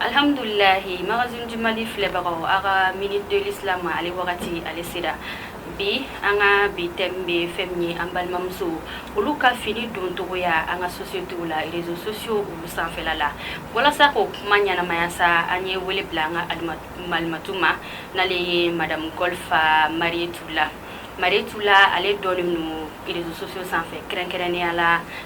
Alihamdulilahi magazine du Mali filɛbagaw a ka minute de l'islam ale wagati ale sera bi an ka bi thème bɛ fɛn min ye an balimamuso olu ka fini doncogoya an ka société la réseaux sociaux olu sanfɛla la walasa k'o kuma ɲɛnamaya sa an ye wele bila an ka malimatu ma n'ale ye madame Golfa Mariétou Lah Mariétou Lah ale dɔnnen don réseaux sociaux sanfɛ kɛrɛnkɛrɛnnenya la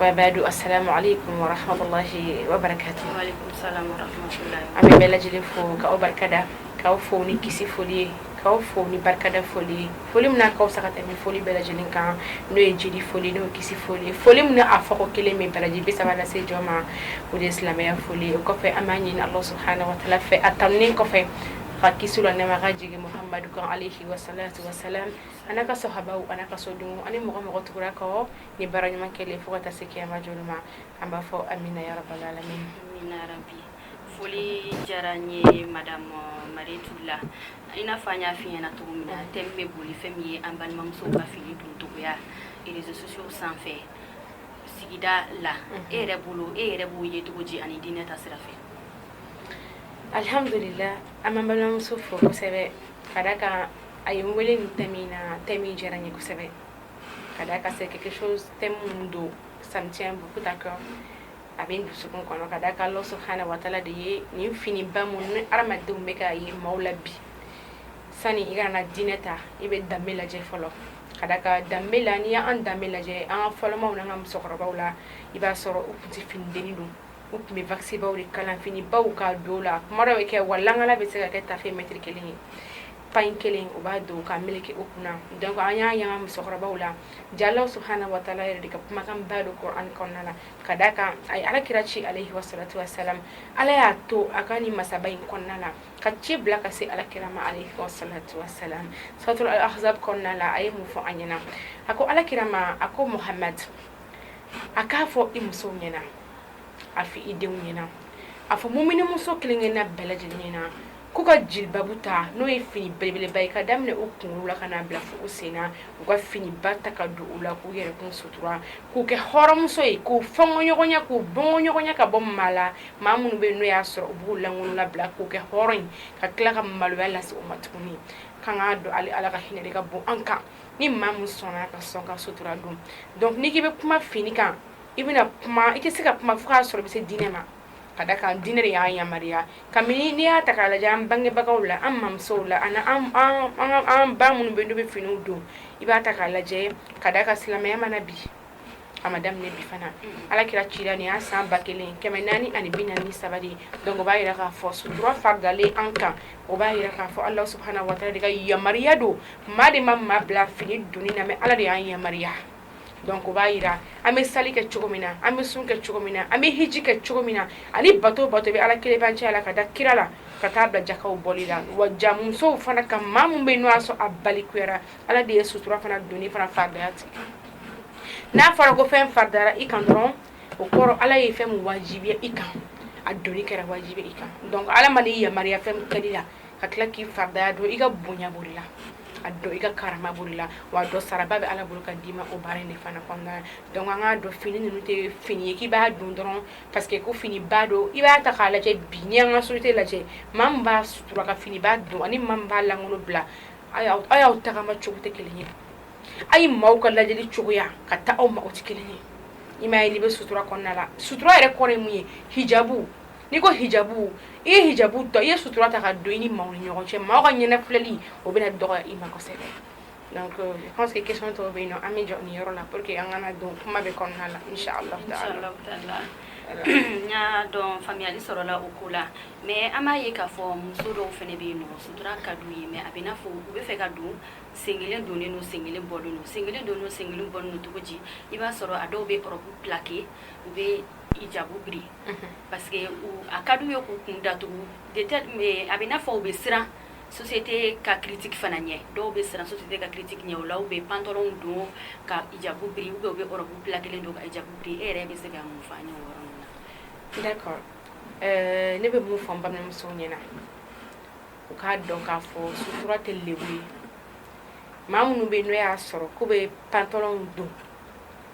waa baadu assalamu alaikum wa rahmatullahi wa barakatuh wa alaikum salam wa rahmatullahi an bɛ bɛɛ lajɛlen fo k'aw barikada k'aw fo ni kisi foli ye k'aw fo ni barikada foli ye foli min n'a ka fisa ka tɛmɛ foli bɛɛ lajɛlen kan n'o ye jeli foli n'o ye kisi foli ye foli min a fɔko kelen bɛ baraji bi saba lase jɔn ma o de ye silamɛya foli ye o kɔfɛ an b'a ɲini allah subhanahu wa taala fɛ a tanunen kɔfɛ ka kisi ni nɛɛma ka jigin muhammadu kan alayhi wa salatu wa salam an'a ka sahabaw an'a ka sodenw ani mɔgɔ o mɔgɔ tugura kɔ ni baara ɲuman kɛli ye fo ka taa se kiyama jɔli ma an b'a fɔ amina yarabal alamin amina yarabi foli diyara n ye madame Mariétou Lah i n'a fɔ an y'a f'i ɲɛna cogo min na thème bɛ boli fɛn min ye an balimamusow ka fini doncogoya réseaux sociaux sanfɛ sigida la e yɛrɛ bolo e yɛrɛ b'o ye cogo di ani diinɛ ta sira fɛ alhamdulillah an b'an balimamuso fo kosɛbɛ ka da kan a ye n wele nin thème in na thème in diyara n ye kosɛbɛ ka da kan c'est quelque chose thème mun don ça me tient beaucoup à cœur a bɛ n dusukun kɔnɔ ka da kan Allah subhanahu wa taala de ye nin finiba mun ni hadamadenw bɛ ka ye maaw la bi sani i kana diinɛ ta i bɛ danbe lajɛ fɔlɔ ka da kan danbe la n'i y'an danbe lajɛ an ka fɔlɔmaw n'an ka musokɔrɔbaw la i b'a sɔrɔ u tun tɛ finidenni don u tun bɛ wakisibaw de kalan finibaw ka don la kuma dɔ bɛ kɛ wa langala bɛ se ka kɛ tafe mɛtiri kelen ye pagne kelen u b'a don ka meleke u kunna donc an y'a ye an ka musokɔrɔbaw la ja Allah subhanahu wa taala yɛrɛ de ka kumakan ba don kuranɛ kɔnɔna na ka da kan a ye ala kira ci alayhi wa salatu wa salam ala y'a to a ka ni masaba in kɔnɔna na ka ci bila ka se ala kira ma alayhi wa salatu wa salam suratul ahzab kɔnɔna la a ye mun fɔ an ɲɛna a ko ala kira ma a ko muhammad a k'a fɔ i musow ɲɛna a fɔ i denw ɲɛna a fɔ muminimuso kelen-kelenna bɛɛ lajɛlen ɲɛna k'u ka jilibabu ta n'o ye fini belebeleba ye ka daminɛ u kunkolo la ka n'a bila fo u sen na u ka finiba ta ka don u la k'u yɛrɛkun sutura k'u kɛ hɔrɔnmuso ye k'u fɛnkɛ ɲɔgɔn na k'u bɔ ɲɔgɔn na ka bɔ maa la maa minnu bɛ yen n'o y'a sɔrɔ u b'u lankolon labila k'u kɛ hɔrɔn ye ka tila ka maloya lase u ma tuguni k'an k'a dɔn ale ala ka hinɛ de ka bon an kan ni maa min sɔnna ka sɔn ka sutura don donc n'i k'i bɛ kuma fini kan i bɛna kuma i tɛ se ka kuma fo k'a sɔrɔ i bɛ se diinɛ ma ka da kan diinɛ de y'an yamaruya kabini n'i y'a ta k'a lajɛ an bangebagaw la an mamusow la ani an an ba minnu bɛ n'u bɛ finiw don i b'a ta k'a lajɛ ka da kan silamɛya ma na bi a ma daminɛ bi fana ala kira cira nin y'a san ba kelen kɛmɛ naani ani bi naani saba de donc o b'a yira k'a fɔ sutura faridalen an kan o b'a yira k'a fɔ ala subahana wataala de ka yamaruya don maa de ma maa bila fini donni na mais ala de y'an yamaruya donc o b'a yira an bɛ sali kɛ cogo min na an bɛ sun kɛ cogo min na an bɛ hiji kɛ cogo min na ani bato bato bɛ ala kelenbaci la ka da kira la ka taa bila jakaw bɔli la wa musow fana ka maa min bɛ n'o y'a sɔrɔ a balikuyara ala de ye sutura fana don fana faya tigɛ n'a fɔra ko fɛn faridara i kan dɔrɔn o kɔrɔ ala ye fɛn min wajibiya i kan a don kɛra wajibi i kan ala ma yamaruya fɛn kɛ la ka tila k'i fardaya dɔn i ka bonya b'o de la a dɔn i ka karama b'o de la wa dɔn saraba bɛ ala bolo ka d'i ma o baara in de fana kɔnɔna na donc an k'a dɔn fini ninnu tɛ fini ye k'i b'a don dɔrɔn parce que ko fini ba don i b'a ta k'a lajɛ bi n'i y'an ka société lajɛ maa min b'a sutura ka fini ba don ani maa min b'a lankolon bila a y'aw a y'aw tagama cogo tɛ kelen ye a ye maaw ka lajɛli cogoya ka taa aw ma o tɛ kelen ye i m'a ye n'i bɛ sutura kɔnɔna la sutura yɛrɛ kɔrɔ ye mun ye hijabu N'i ko hijabu i ye hijabu don i ye sutura ta k'a don i ni maaw ni ɲɔgɔn cɛ maaw ka ɲɛnafilɛli o bɛna dɔgɔya i ma kosɛbɛ donc euh, je pense que question tɔw bɛ yen nɔ an bɛ jɔ nin yɔrɔ la pour que an kana don kuma bɛɛ kɔnɔna la inchallah taala n y'a dɔn faamuyali sɔrɔla o ko la mais an b'a ye k'a fɔ muso dɔw fana bɛ yen n'o sutura ka d'u ye mais a bɛ i n'a fɔ u b'a fɛ k'a don sen kelen donnen don sen kelen bɔlen don sen kelen donnen don sen kelen bɔlen don cogo di i b'a sɔrɔ a dɔw bɛ robe plaqué u bɛ hijabu biri parce que a ka d'u ye k'u kun datugu de telle mais a bɛ i n'a fɔ u bɛ siran société ka critique fana ɲɛ dɔw bɛ siran société ka critique ɲɛ o la u bɛ pantalon don ka hijabu biri ou bien u bɛ robe pilakelen don ka hijabu biri e yɛrɛ bɛ se ka mun fɔ an ye o yɔrɔ ninnu na d'accord euh, ne bɛ mun fɔ n balimamusow ɲɛna u k'a dɔn k'a fɔ sutura tɛ lebu ye maa minnu bɛ yen n'o y'a sɔrɔ k'u bɛ pantalon don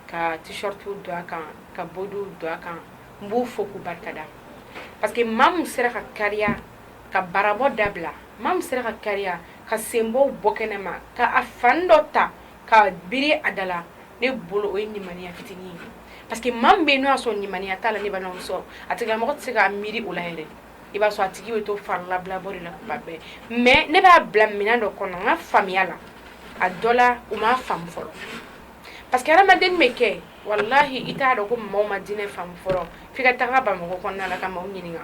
ka t-shirt don a kan ka bɔ don a kan n b'o fɔ k'u barika da parce que maa min sera ka kariya ka barabɔ dabila maa min sera ka kariya ka senbɔ bɔ kɛnɛ ma ka a fan dɔ ta ka biri a da la ne bolo o ye limaniya fitinin ye parce que maa bɛ n'o y'a sɔrɔ limaniya t'a la ne sɔrɔ a tigilamɔgɔ tɛ se k'a miiri o la yɛrɛ i b'a sɔrɔ a tigi bɛ to farilabɔ la kuma bɛɛ mais ne b'a bila minɛn dɔ kɔnɔ n ka faamuyaya la a dɔ la u ma faamu fɔlɔ parce que adamadennin bɛ kɛ walahi i t'a dɔn ko maaw ma diinɛ faamu fɔlɔ f'i ka taga Bamakɔ kɔnɔna la ka maaw ɲininka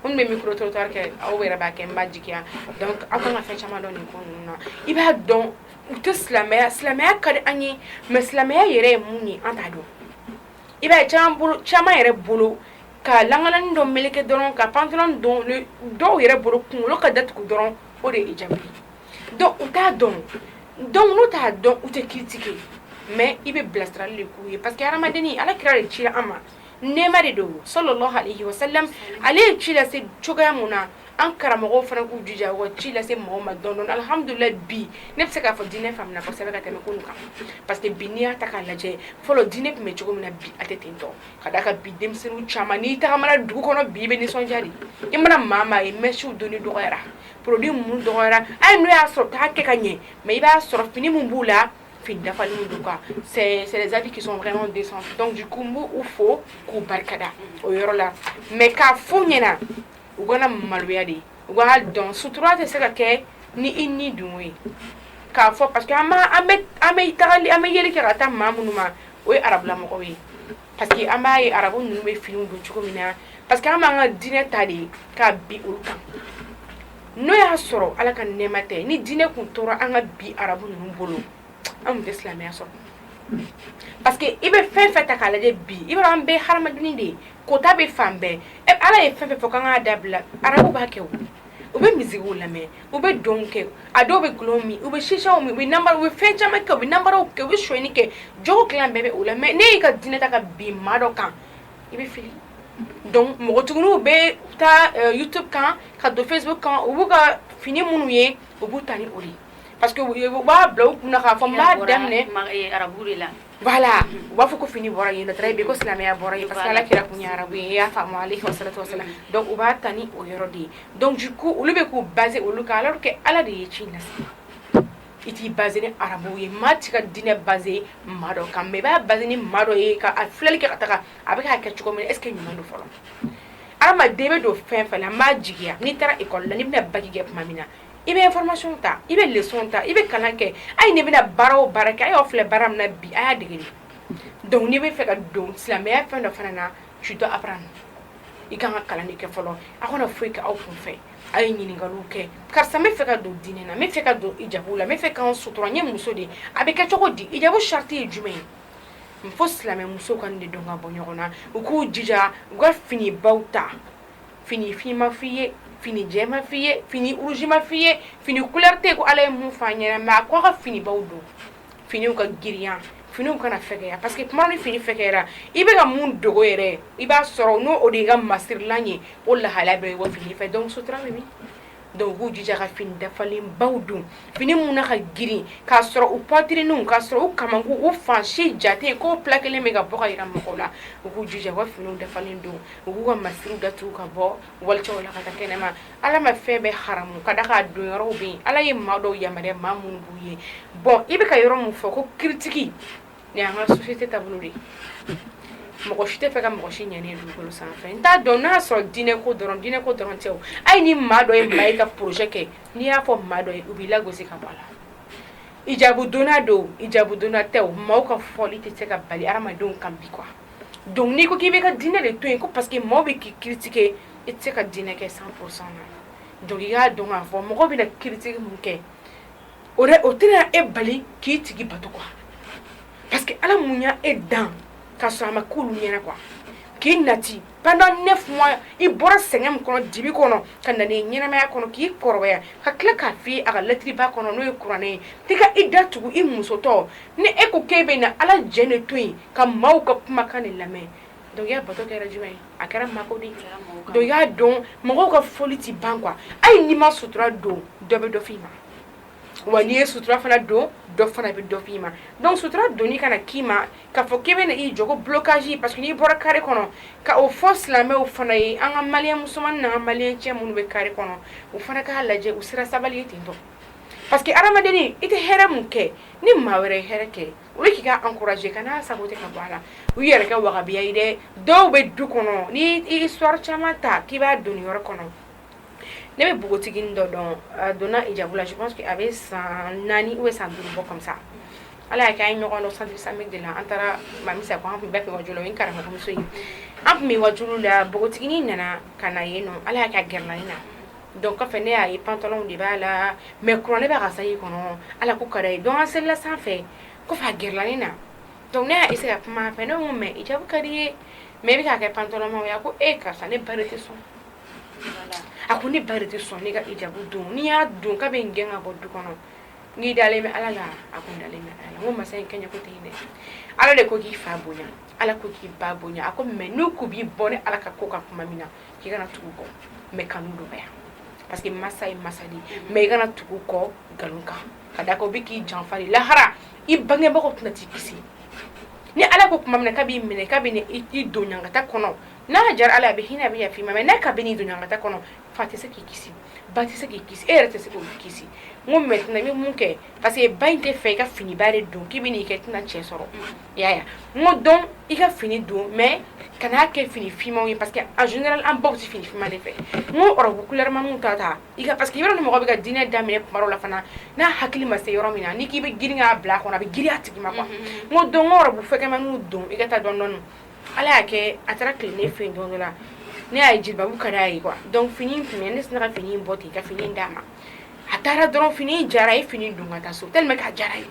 minnu bɛ micro trottoir kɛ aw yɛrɛ b'a kɛ n b'a jigiya donc aw kan ka fɛn caman dɔn nin ko ninnu na i b'a dɔn u tɛ silamɛya silamɛya ka di an ye mais silamɛya yɛrɛ ye mun ye an t'a dɔn i b'a ye caman bolo caman yɛrɛ bolo ka langalani dɔ meleke dɔrɔn ka pantalon don dɔw yɛrɛ bolo kunkolo ka datugu dɔrɔn o de ye hijabu ye Donc u t'a dɔn donc n'u t'a dɔn u tɛ critiquer mais i bɛ bilasirali de k'u ye parce que hadamadennin alakira de cira an ma nɛɛma de don salalahu alehi wasalamu ale ye ci lase cogoya min na an karamɔgɔw fana k'u jija u ka ci lase mɔgɔw ma dɔɔni dɔɔni alihamudulilayi bi ne bɛ se k'a fɔ diinɛ faamuna kosɛbɛ ka tɛmɛ kunun kan parce que bi n'i y'a ta k'a lajɛ fɔlɔ diinɛ tun bɛ cogo min na bi a tɛ ten tɔ ka d'a kan bi denmisɛnninw caman n'i tagamana dugu kɔnɔ bi i bɛ nisɔndiya de i mana maa maa ye mɛsiw donni dɔgɔyara produit munmun dɔgɔyara hali n'o y'a sɔrɔ u t'a kɛ ka ɲɛ mais i b'a sɔrɔ fini min b'u la fini dafalenw don quoi c'est les habits qui sont vraiment décents donc du coup n b'u fo k'u barikada o yɔrɔ la mais k'a fɔ u ɲɛna u kana maloya dɛ u k'a dɔn sutura tɛ se ka kɛ ni i ni dun ye k'a fɔ parce que an bɛ an bɛ yeli kɛ ka taa maa minnu ma o ye arabulamɔgɔ ye Parce que an b'a ye arabu ninnu bɛ fini don cogo min na parce que an b'an ka dinɛ ta de ka bin olu kan n'o y'a sɔrɔ ala ka nɛma tɛ ni dinɛ tun tora an ka bi arabu ninnu bolo anw tɛ silamɛya sɔrɔ parce que i bɛ fɛn fɛn ta k'a lajɛ bi i an bɛɛ hadamaden de ye kota bɛ fan bɛɛ ala ye fɛn fɛn fɔ k'a ka dabila arabu b'a kɛ u bɛ misikiw lamɛn u bɛ dɔn kɛ a dɔw bɛ dɔlɔw min u bɛ chicha min u bɛ fɛn caman kɛ u bɛ nanbaraw kɛ u bɛ sonni kɛ jogo kolon bɛɛ bɛ u la mais n'i y'i ka diinɛ ta ka bin maa dɔ kan i bɛ fili npogotigiw bɛ taa youtube kan ka don facebook kan u b'u ka fini minnu ye u b'u ta ni o ye parce que u b'a bila u kun k'a fɔ daminɛ arabu la Voila u b'a fɔ ko fini bɔra yen nɔ très bien ko silamɛya bɔra yen parce que alakira tun ye arabu ye i y'a faamu aleyihi salatu wa salam donc u b'a ta ni o yɔrɔ de ye donc du coup olu bɛ k'u baser olu kan alors que Ala de ye ci lase i t'i baser ni arabuw ye maa t'i ka diinɛ baser maa dɔ kan mais i b'a baser ni maa dɔ ye ka a filɛli kɛ ka taga a bɛ k'a kɛ cogo min na est ce que ɲuman don fɔlɔ hadamaden bɛ don fɛn fɛn na n b'a jigiya n'i taara école la n'i bɛna bac kɛ tuma min na i bɛ informationw ta i bɛ leçonw ta i bɛ kalan kɛ ayi n'i bɛna baara o baara kɛ a y'aw filɛ baara min bi a y'a dege donc n'i bɛ fɛ ka don silamɛya fɛn dɔ fana na tu dois apprendre i ka kan ka kalan kɛ fɔlɔ aw kana foyi kɛ aw kun fɛ aw ye ɲininkali kɛ karisa bɛ fɛ ka don diinɛ na bɛ fɛ ka don hijabu la bɛ fɛ ka sutura ye muso de ye a bɛ kɛ cogo di hijabu sarati ye jumɛn ye fo silamɛmuso k'o de dɔn ka bɔ ɲɔgɔn na u k'u jija u ka finibaw ta fini fin ma f'i ye fini jɛ ma f'i ye fini rouge ma f'i ye fini couleur tɛ ye ko Ala ye mun f'an ɲɛna mais a ko a ka finibaw don finiw ka girinya finiw kana fɛgɛya parce que tuma ni fini fɛgɛyara i bɛ ka mun dogo yɛrɛ i b'a sɔrɔ n'o o de y'i ka masirilan ye o lahala bɛ bɔ fini fɛ donc sutura bɛ min donc u k'u jija ka fini dafalenbaw don fini minnu na ka girin k'a sɔrɔ u poitrinew ka sɔrɔ u kamankun u fan si jate ko p kelen bɛ ka bɔ ka jira mɔgɔw la u k'u jija ka fini dafalen don u k'u ka masiriw datugu ka bɔ walicɛw la ka taa kɛnɛ ma ala ma fɛn bɛɛ haramu ka da k'a don yɔrɔ bɛ yen ala ye maa dɔw yamaruya maa minnu b'u ye bon i bɛ ka yɔrɔ min fɔ ko critique nin y'an ka société taabolo de ye mɔgɔ si t'a fɛ ka mɔgɔ si ɲɛni ye dugukolo sanfɛ n t'a dɔn n'a y'a sɔrɔ diinɛ ko dɔrɔn diinɛ ko dɔrɔn tɛ o hali ni maa dɔ ye maa ye ka projet kɛ n'i y'a fɔ maa dɔ ye u b'i lagosi ka bɔ a la ijabudonna don ijabudonna tɛ o maaw ka fɔli tɛ se ka bali hadamadenw kan bi quoi donc n'i ko k'i bɛ ka diinɛ de to yen ko parce que maaw bɛ k'i critiquer i tɛ se ka diinɛ kɛ 100 pour 100 na donc i k'a dɔn k'a fɔ mɔgɔ bɛna critique min kɛ o o tɛna e bali k'i tigi bato quoi parce que ala mun y' e dan ka sɔrɔ a ma ko ɲɛna quoi k'i nati pendant 9 mois i bɔra sɛgɛn min kɔnɔ dibi kɔnɔ ka na ɲɛnamaya kɔnɔ k'i kɔrɔbaya ka tila k'a f'i ye a ka lɛtɛrɛba kɔnɔ n'o ye kuranɛ ye k'i ka i datugu i musotɔ ni e ko k'e bɛ na ala jɛn ne to yen ka maaw ka kumakan ne lamɛn Donc bato kɛra jumɛn ye a kɛra mako de don y'a dɔn mɔgɔw ka fɔli tɛ ban quoi hali n'i ma sutura don dɔ bɛ dɔ f'i ma wa n'i ye sutura fana don dɔ fana bɛ dɔ f'i ma donc sutura don i kana k'i ma ka fɔ k'i bɛ i jɔ k'i bloquer parce que n'i bɔra carré kɔnɔ ka o fɔ silamɛw fana ye an ka mali musoman na mali cɛ minnu bɛ carré kɔnɔ u fana k'a lajɛ u sera sabali ten parce que hadamaden i tɛ hɛrɛ min kɛ ni maa wɛrɛ ye hɛrɛ kɛ O ye k'i encourager ka n'a sago ka bɔ a la u yɛrɛ kɛ wahabiya ye dɛ dɔw bɛ du kɔnɔ ni i sɔrɔ caman ta k'i b'a don yɔrɔ kɔnɔ ne bɛ npogotigi dɔ dɔn donna hijabu la a bɛ san naani bɛ san duuru bɔ kɔsa ala y'a kɛ ye ɲɔgɔn dɔn san san de la an taara masa an tun bɛɛ kɛ wajɔ ye karamɔgɔmuso ye an tun bɛ waajuli la npogotigi nana ka na yen nɔ ala y'a ka gɛrɛ na Donc kɔfɛ ne y'a ye pantalonw de b'a la mais kura ne bɛ ka sa i kɔnɔ ala ko ka ye dɔgɔ sela sanfɛ ko fa gla ne na dɔnku ne y'se se ka kuma fɛ ne mais hijabu ka di i ye mais i bɛ'a kɛ pantalon ye ko e karisa ne ba tɛ sɔn a ko ne ba tɛ sɔn ne ka hijabu don n'i y'a don k'a bɛ n gɛn ka bɔ du kɔnɔ n'i dalen bɛ ala la a ko dalen ala ko masa in kɛɲɛ ko tɛ dɛ ala de ko k'i fa bonya ala ko k'i ba bonya a ko mais n'u ko b'i bɔ ni ala ka ko ka kuma min na i kana tugu u kɔ mais kan'u dɔgɔya parce que masa ye masa de ye mais i kana tugu u kɔ nkalon kan ka d'a kan o bɛ k'i janfa de lahara i bangebagaw tɛna t'i kisi ni ala ko tuma min na k'a b'i minɛ k'a bɛ i don ɲangata kɔnɔ n'a diyara ala a bɛ hinɛ a bɛ yafa i ma mais n'a k'a bɛn'i don ɲangata kɔnɔ fa tɛ se k'i kisi ba tɛ se k'i kisi e yɛrɛ tɛ se k'o kisi n ko maintenant i bɛ mun kɛ parce que ba in t'a fɛ i ka finiba de don k'i bɛ n'i kɛ tɛna cɛ sɔrɔ y'a n ko donc i ka fini don mais kan'a kɛ fini finmanw ye parce que a z an baw tɛ fini finman de fɛ n ko kulɛma ta ta i parce que yɔrɔ ni mɔgɔ bɛ ka diinɛ daminɛ tuma la fana n'a hakili ma se yɔrɔ min na ni k'i bɛ girinya bila kɔnɔ a bɛ girinya a tigi ma ma n dɔn fɛn don i ka taa dɔɔnin dɔɔnin ala y'a kɛ a taara tile ne fɛ don la ne y'a ji ka d'a ye donc fini tun ne sera ka fini bɔ ten i ka fini d'a ma a taara donc fini diyara a ye fini don ka taa so ka diyara ye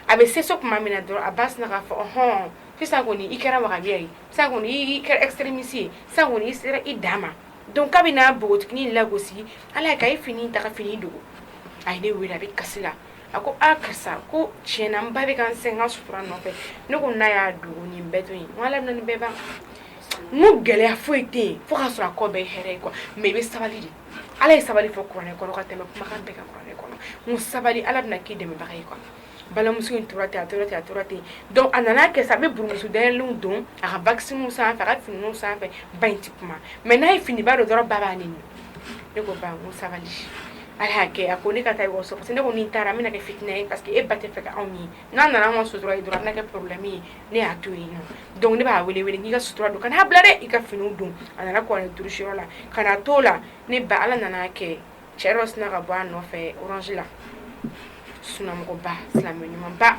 a bɛ se tuma min na dɔrɔn a ba sin k'a fɔ hɔn sisan kɔni i kɛra wahabiya ye sa i kɛra extrémiste ye sa i sera i dan ma donc a bɛ n'a npogo lagosi ala ka i fini ta fini dogo a ne wele a bɛ kasi la a ko aaa karisa ko tiɲɛ na ba bɛ ka n sɛgɛn n ka sutura nɔfɛ ne ko n'a y'a dogo ni bɛɛ to bɛɛ ban n gɛlɛya foyi tɛ yen fo ka sɔrɔ a kɔ bɛ hɛrɛ ye quoi mais i bɛ sabali de ala ye sabali fɔ kuranɛ kɔnɔ ka tɛmɛ kumakan bɛɛ kan kuranɛ kɔnɔ muɲu sabali ala bɛna k'i dɛmɛbaga ye kɔnɔ balimamuso in tora ten a tora ten a tora ten donc a nana kɛ sa a bɛ burumusu dayɛlɛlenw don a ka wakisininw sanfɛ a ka finiw sanfɛ ba in ti kuma mais n'a ye finiba don dɔrɔn ba b'a nɛni ne ko ba n ko sabali ala y'a kɛ a ko ne ka taa ekɔliso parce que ne ko ni n taara n bɛna kɛ fitina ye parce que e ba t'a fɛ ka anw ye n'a nana anw ka sutura ye dɔrɔn a bɛna kɛ problème ye ne y'a to yen nɔ donc ne b'a wele wele n k'i ka sutura don kan'a bila dɛ i ka finiw don a nana kɔrɔlen durusiyɔrɔ la kan'a t'o la ne ba ala nana kɛ cɛ dɔ sinna ka bɔ a nɔfɛ orange la sunnamɔgɔba silamɛ ɲumanba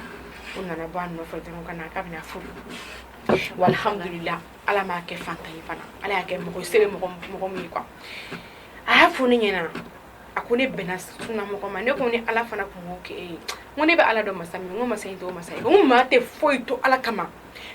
o nana bɔ a nɔfɛ dɔrɔn ka na k'a bɛn'a furu walhamdulila ala m'a kɛ fantan ye fana ala y'a kɛ mɔgɔ se bɛ mɔgɔ mɔgɔ min ye quoi a y'a fɔ ne ɲɛna a ko ne bɛnna sunna mɔgɔ ma ne ko ni ala fana tun b'o kɛ e ye ko ne bɛ ala dɔn masa min ko masa in t'o masa ye ko maa tɛ foyi to ala kama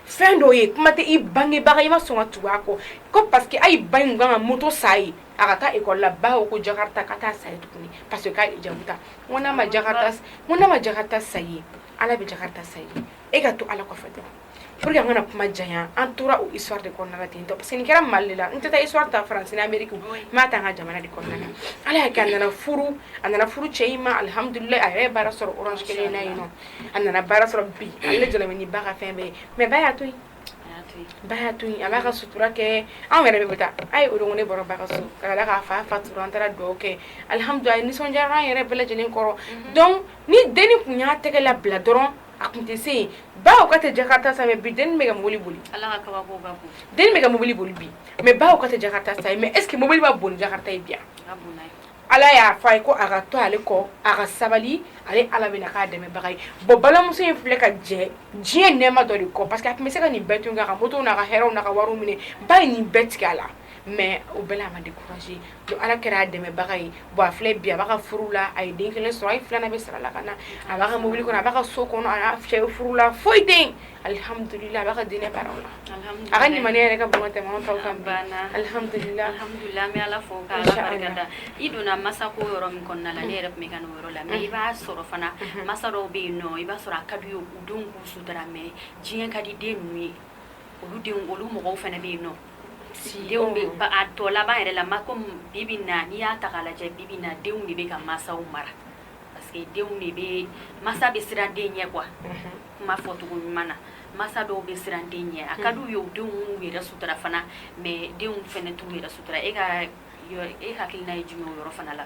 fɛn dɔw ye kuma tɛ i bangebaga i ma sɔn ka tugu a kɔ ko parce que ayi ba in ka kan ka moto san a ye a ka taa ekɔli la ba ko ko jakarta k'a t'a san a ye tuguni parce que k'a ye hijabu ta ko n'a ma jakarta ko n'a ma jakarta san i ye ala bɛ jakarta san i ye e ka to ala kɔfɛ dɔrɔn Pour que an kana kuma janya an tora o histoire de kɔnɔna la ten tɔ parce que nin kɛra Mali de la n tɛ taa histoire ta France ni Amérique n b'a ta an ka jamana de kɔnɔna na Ala y'a kɛ a nana furu a nana furu cɛ in ma alhamdoulillahi a yɛrɛ ye baara sɔrɔ orange kelen in na yen nɔ a nana baara sɔrɔ bi ale de jɔlen bɛ ni ba ka fɛn bɛɛ ye mais ba y'a to yen ba y'a to yen a b'a ka sutura kɛ anw yɛrɛ bɛɛ taara a ye o don ko ne bɔra ba ka so ka d'a kan a fa fatura an taara dugawu kɛ alhamdoulillahi a yɛrɛ nisɔndiyara an yɛrɛ bɛɛ lajɛlen kɔrɔ donc ni denni tun y'a tɛgɛ labila dɔrɔn a tun tɛ se baw ka tɛ jakarta san bi den bɛ ka mobili boli den bɛ ka mobili boli bi mɛ baw ka tɛ jakarta san mɛ eseke mobili man bon ni jakarta ye bi wa ala y'a fɔ a ye ko a ka to ale kɔ a ka sabali ale ala bɛna k'a dɛmɛbaga ye bon balimamuso in filɛ ka jɛ diɲɛ nɛɛma dɔ de kɔ parce que a tun bɛ se ka nin bɛɛ tugu a ka motow n'a ka hɛrɛw n'a ka wari minɛ ba ye nin bɛɛ tigɛ a la mɛ o bɛɛ la a ma découragé donc Ala kɛra a dɛmɛbaga ye bon a filɛ bi a b'a ka furu la a ye den kelen sɔrɔ a ye filanan bɛ sira la ka na a b'a ka mobili kɔnɔ a b'a ka so kɔnɔ a y'a cɛ furu la foyi tɛ yen alihamudulila a b'a ka diinɛ baaraw la a ka limaniya yɛrɛ ka bon ka tɛmɛ anw taw kan bi alihamudulila alihamudulila an bɛ Ala fo ka Ala barika da i donna masako yɔrɔ min kɔnɔna la ne yɛrɛ tun bɛ ka na o yɔrɔ la mɛ i b'a sɔrɔ fana masa dɔw bɛ yen nɔ i b'a sɔrɔ a ka d'u ye u denw k'u sutura mɛ diɲɛ ka di den ninnu ye olu denw olu mɔgɔw fana bɛ yen nɔ tɔ laban yɛrɛ la ma ko bi bi in na n'i y'a ta lajɛ bi bi in na denw de bɛ ka masaw mara parce que denw de bɛ masa bɛ siran den ɲɛ kuwa kuma fɔcogo ɲuman na masa dɔw bɛ siran den ɲɛ a ka d'u ye u denw yɛrɛ sutura fana mɛ denw fana t'u yɛrɛ sutura e ka e hakilina ye jumɛn yɔrɔ fana la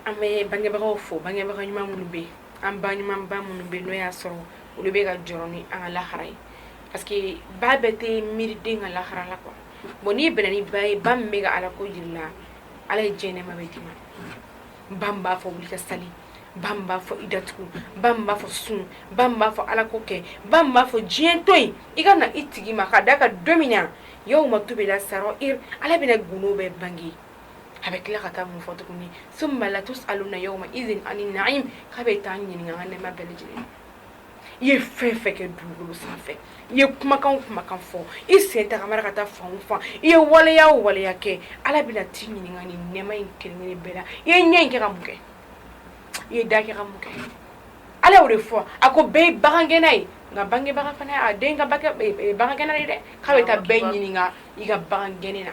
an bɛ bangebagaw fo bangebaga ɲuman minnu bɛ an ba ɲumanba minnu bɛ n'o y'a sɔrɔ olu bɛ ka jɔ ni an ka lahara ye Parce que ba bɛɛ tɛ miiri den ka lahara la quoi bon n'i bɛnna ni ba ye ba min bɛ ka Ala ko jira i la Ala ye diɲɛ nɛɛma bɛɛ d'i ma ba min b'a fɔ wuli ka sali ba min b'a fɔ i datugu ba min b'a fɔ sun ba min b'a fɔ Ala ko kɛ ba min b'a fɔ diɲɛ to yen i ka na i tigi ma ka d'a kan don min na yawma tubila sara'ir Ala bɛna gundo bɛɛ bange a bɛ tila ka taa mun fɔ tuguni summa latus'aluna yawma idhin ani na'im k'a bɛ taa an ɲininka an ka nɛɛma bɛɛ lajɛlen na i ye fɛn fɛn kɛ dugukolo sanfɛ i ye kumakan o kumakan fɔ i sen tagamana ka taa fan o fan i ye waleya o waleya kɛ Ala bɛna t'i ɲininka nin nɛɛma in kelen-kelen bɛɛ la i ye ɲɛ in kɛ ka mun kɛ i ye da kɛ ka mun kɛ Ala y'o de fɔ a ko bɛɛ ye bagangɛnna ye nka bangebaga fana y'a den ka bagangɛnna ye dɛ k'a bɛ taa bɛɛ ɲininka i ka bagangɛnni na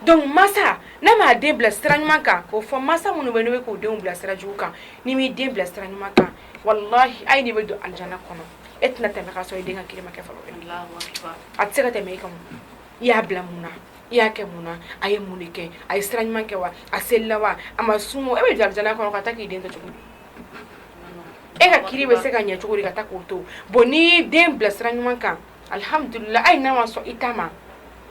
donc masa n'a m'a den bila sira ɲuman kan o fɔ masa minnu bɛ ne k'u denw bila sira jugu kan n'i m'i den bila sira ɲuman kan walahi hali n'i bɛ don alijana kɔnɔ e tɛna tɛmɛ ka sɔrɔ i den ka kiri ma kɛ fɔlɔ a tɛ se ka tɛmɛ i kan i y'a bila mun na i y'a kɛ mun na a ye mun de kɛ a ye sira ɲuman kɛ wa a selila wa a ma sun o e bɛ don alijana kɔnɔ ka taa k'i den to cogo di e ka kiri bɛ se ka ɲɛ cogo di ka taa k'o to bon n'i y'i den bila sira ɲuman kan alihamdulila hali n'a ma sɔn i ta ma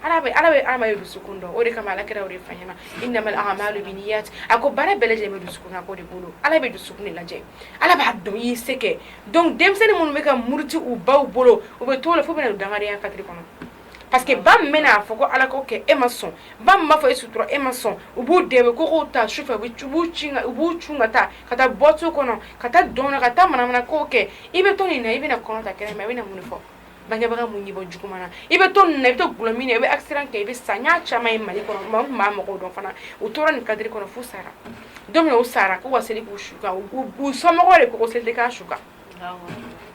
Ala bɛ Ala bɛ hadamaden de dusukun dɔn o de kama Ala kira y'o de fɔ an ɲɛna innamal aamalou biniyati a ko baara bɛɛ lajɛlen bɛ dusukunnako de bolo Ala bɛ dusukun de lajɛ Ala b'a dɔn i ye se kɛ donc denmisɛnnin minnu bɛ ka muruti u baw bolo u bɛ t'o la f'u bɛna don dangadenya kadiri kɔnɔ parce que ba min bɛna a fɔ ko Ala ko kɛ e ma sɔn ba min b'a fɔ e sutura e ma sɔn u b'u dɛn u bɛ kogow ta sufɛ u bɛ u b'u cun ka u b'u cun ka taa ka taa boîte kɔnɔ ka taa dɔn na ka taa manamana ko kɛ i bɛ to nin na i bɛna kɔnɔ ta kɛnɛ ma i bɛna mun fɔ bangebaga mun bɔ jugu na i bɛ to nin na i bɛ to dulɔ min na i bɛ accident kɛ i bɛ sa n y'a caman ye Mali kɔnɔ maa maa mɔgɔw dɔn fana u tora nin cadre kɔnɔ f'u sara don min na u sara k'u ka seli k'u su kan u u somɔgɔw de ko ko seli tɛ k'a su kan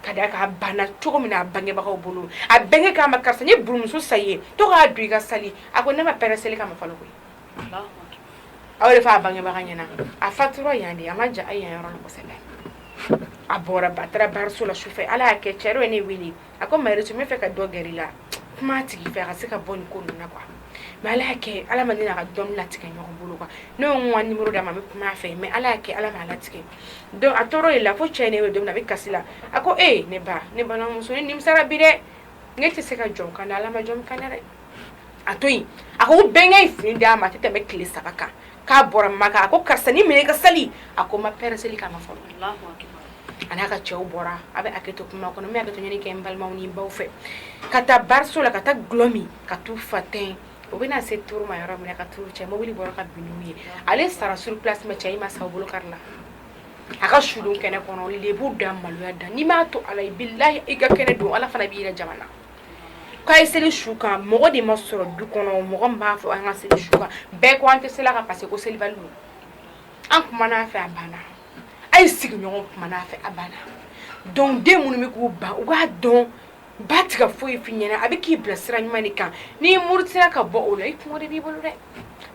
ka d'a kan a banna cogo min na a bangebagaw bolo a bɛnkɛ k'a ma karisa n ye burumusi san i ye to k'a don i ka sali a ko ne ma parɛ seli kama fɔlɔ koyi ale fa bangebaga ɲɛna a fatura yan de a ma jan yan yɔrɔ kosɛbɛ a bɔra ba taara baraso la sufɛ ala y'a kɛ cɛ dɔ ye ne wele a ko mayɛrɛ tun b'a fɛ ka dɔ gɛrɛ la kuma tigi fɛ a ka se ka bɔ nin ko ninnu na kuwa mɛ ala y'a kɛ ala ma ne n'a ka dɔn latigɛ ɲɔgɔn bolo kuwa ne ye n ka nimoro d'a ma a bɛ kuma a fɛ mɛ ala y'a kɛ ala ma latigɛ donc a tɔɔrɔ de la fo cɛ nin bɛ don min na a bɛ kasi la a ko ee ne ba ne balimamuso ne nimisara bi dɛ ne tɛ se ka jɔn kan dɛ ala ma jɔn kan dɛ a to a ko bɛnkɛ fini d'a ma tɛmɛ bɛ tile saba kan k'a bɔra ma a ko karisa nin minɛ i ka seli a ko ma parɛ seli kama a n'a ka cɛw bɔra a bɛ a kɛ to kuma kɔnɔ bɛ to ɲini kɛ n balimaw ni baw fɛ ka taa baraso la ka taa dulɔ min ka taa fa tɛ o bɛna se to ma yɔrɔ minɛ ka cɛ mobili bɔra ka ye ale sara suru tɛmɛ cɛ in ma sa bolo karila a ka su kɛnɛ kɔnɔ b'u da maloya da n'i m'a to ala i' la i ka kɛnɛ don ala fana b'i jama na K'a seli su kan mɔgɔ de ma sɔrɔ du kɔnɔ mɔgɔ b'a fɔ an ka seli su kan bɛɛ ko an tɛ seli a kan parce que selibali don an kumana a fɛ a banna a ye sigiɲɔgɔn kumana a fɛ a banna dɔnku den minnu bɛ k'u ba u k'a dɔn ba tɛ ka foyi f'i ɲɛna a bɛ k'i bila sira ɲuman kan n'i murutila ka bɔ o la i b'i bolo dɛ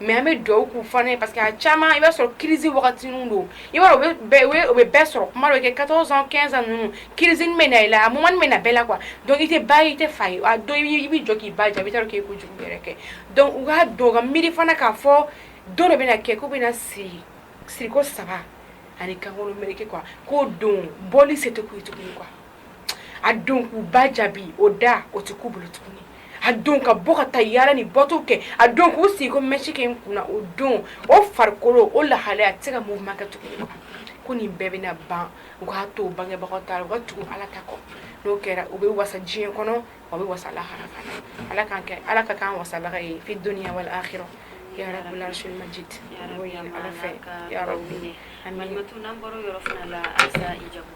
mɛ an bɛ dɔw k'u fana ye parce que a caman i b'a sɔrɔ kiriz wagati don i b'a o bɛ bɛɛ sɔrɔ comme quatorze quinze ans ninnu kiriz bɛ na i la a bɛ na bɛɛ la kuwa donc i tɛ ba i tɛ fa a dɔn i bɛ jɔ k'i ba jaabi i k'i ko jugu yɛrɛ kɛ dɔnku u k'a dɔn ka miiri fana k'a fɔ don de bɛna kɛ k'u bɛna siri siriko saba ani kankolon mri kuwa k'o don bɔ se t'u ye tuguni kuwa a don k'u ba jaabi o da o tɛ k'u bolo tuguni a don ka bɔ ka taa yaala ni boîte kɛ a don k'u sigi ka mɛsi kɛ u kunna o don o farikolo o lahalaya a tɛ se ka mouvement kɛ tuguni ko nin bɛɛ bɛna ban u k'a to bangebagaw ta u ka tugu ala ta kɔ n'o kɛra u bɛ wasa diɲɛ kɔnɔ u bɛ wasa lahara fana ala k'an kɛ ala ka k'an wasabaga ye fi dunya wal akhira ya rabbal arshil majid Ya Rabbi, N'o ye an b'a ala fɛ ka ya tɔw rabbi minɛ. amin Malimatu, n'an bɔra o yɔrɔ fana la, halisa i jamu?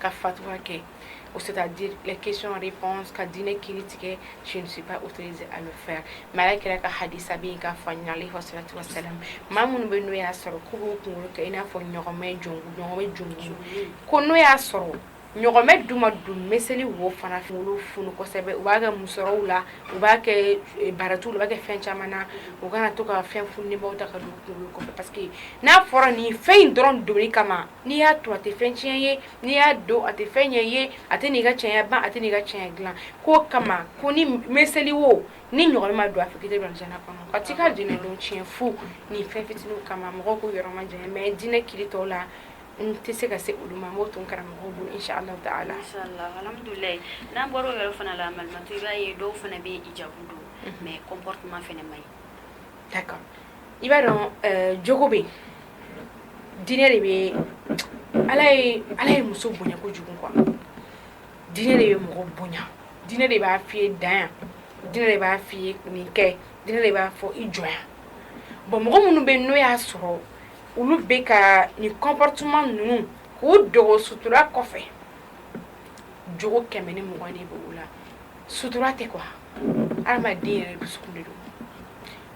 ka fatwa kɛ o c'est à dire les questions réponses ka diinɛ kiri tigɛ je ne suis pas autorisée à le faire mais ala kira ka hadisa bɛ yen k'a fɔ ɲinɛ alayhi salatu wa salam maa minnu bɛ n'o y'a sɔrɔ k'u b'u kunkolo kɛ i n'a fɔ ɲɔgɔmɛ jongu ɲɔgɔmɛ jongu ko n'o y'a sɔrɔ ɲɔgɔmɛ duma dun meseli wo fana kunkolo funu kosɛbɛ u b'a kɛ musɔrɔw la u b'a kɛ eh, barɛtiw la u b'a kɛ fɛn caman na u kana to ka fɛn funulenbaw ta ka don kunkolo kɔfɛ parce que n'a fɔra nin fɛn in dɔrɔn donni kama n'i y'a to a tɛ fɛn tiɲɛ ye n'i y'a don a tɛ fɛn ɲɛ ye a tɛ n'i ka cɛɲɛ ban a tɛ n'i ka cɛɲɛ dilan k'o kama ko ni m- meseli wo ni ɲɔgɔmɛ ma don a fɛ k'i tɛ don alijana kɔnɔ ka t'i ka diinɛ don tiɲɛ fu nin fɛn fitiniw kama mɔgɔw k'u yɔrɔ majanya mais diinɛ kiiri tɔw la n tɛ se ka se olu ma n b'o to n karamɔgɔw bolo inchallahu taala Inshallah, alhamdulilayi. N'an bɔra o yɔrɔ fana la, Malimatu, i b'a ye dɔw fana bɛ hijabu don, mais comportement fana man ɲi. i b'a dɔn eh, jogo bɛ yen diinɛ de bɛ ala ye ala ye muso bonya kojugu quoi diinɛ de bɛ mɔgɔ bonya diinɛ de b'a f'i ye dan yan diinɛ de b'a f'i ye nin kɛ diinɛ de b'a fɔ i jɔ yan bon mɔgɔ minnu bɛ yen n'o y'a sɔrɔ olu bɛ ka nin comportement ninnu k'u dogo sutura kɔfɛ jogo kɛmɛ ni mugan de bɛ u la sutura tɛ quoi hadamaden yɛrɛ dusukun de don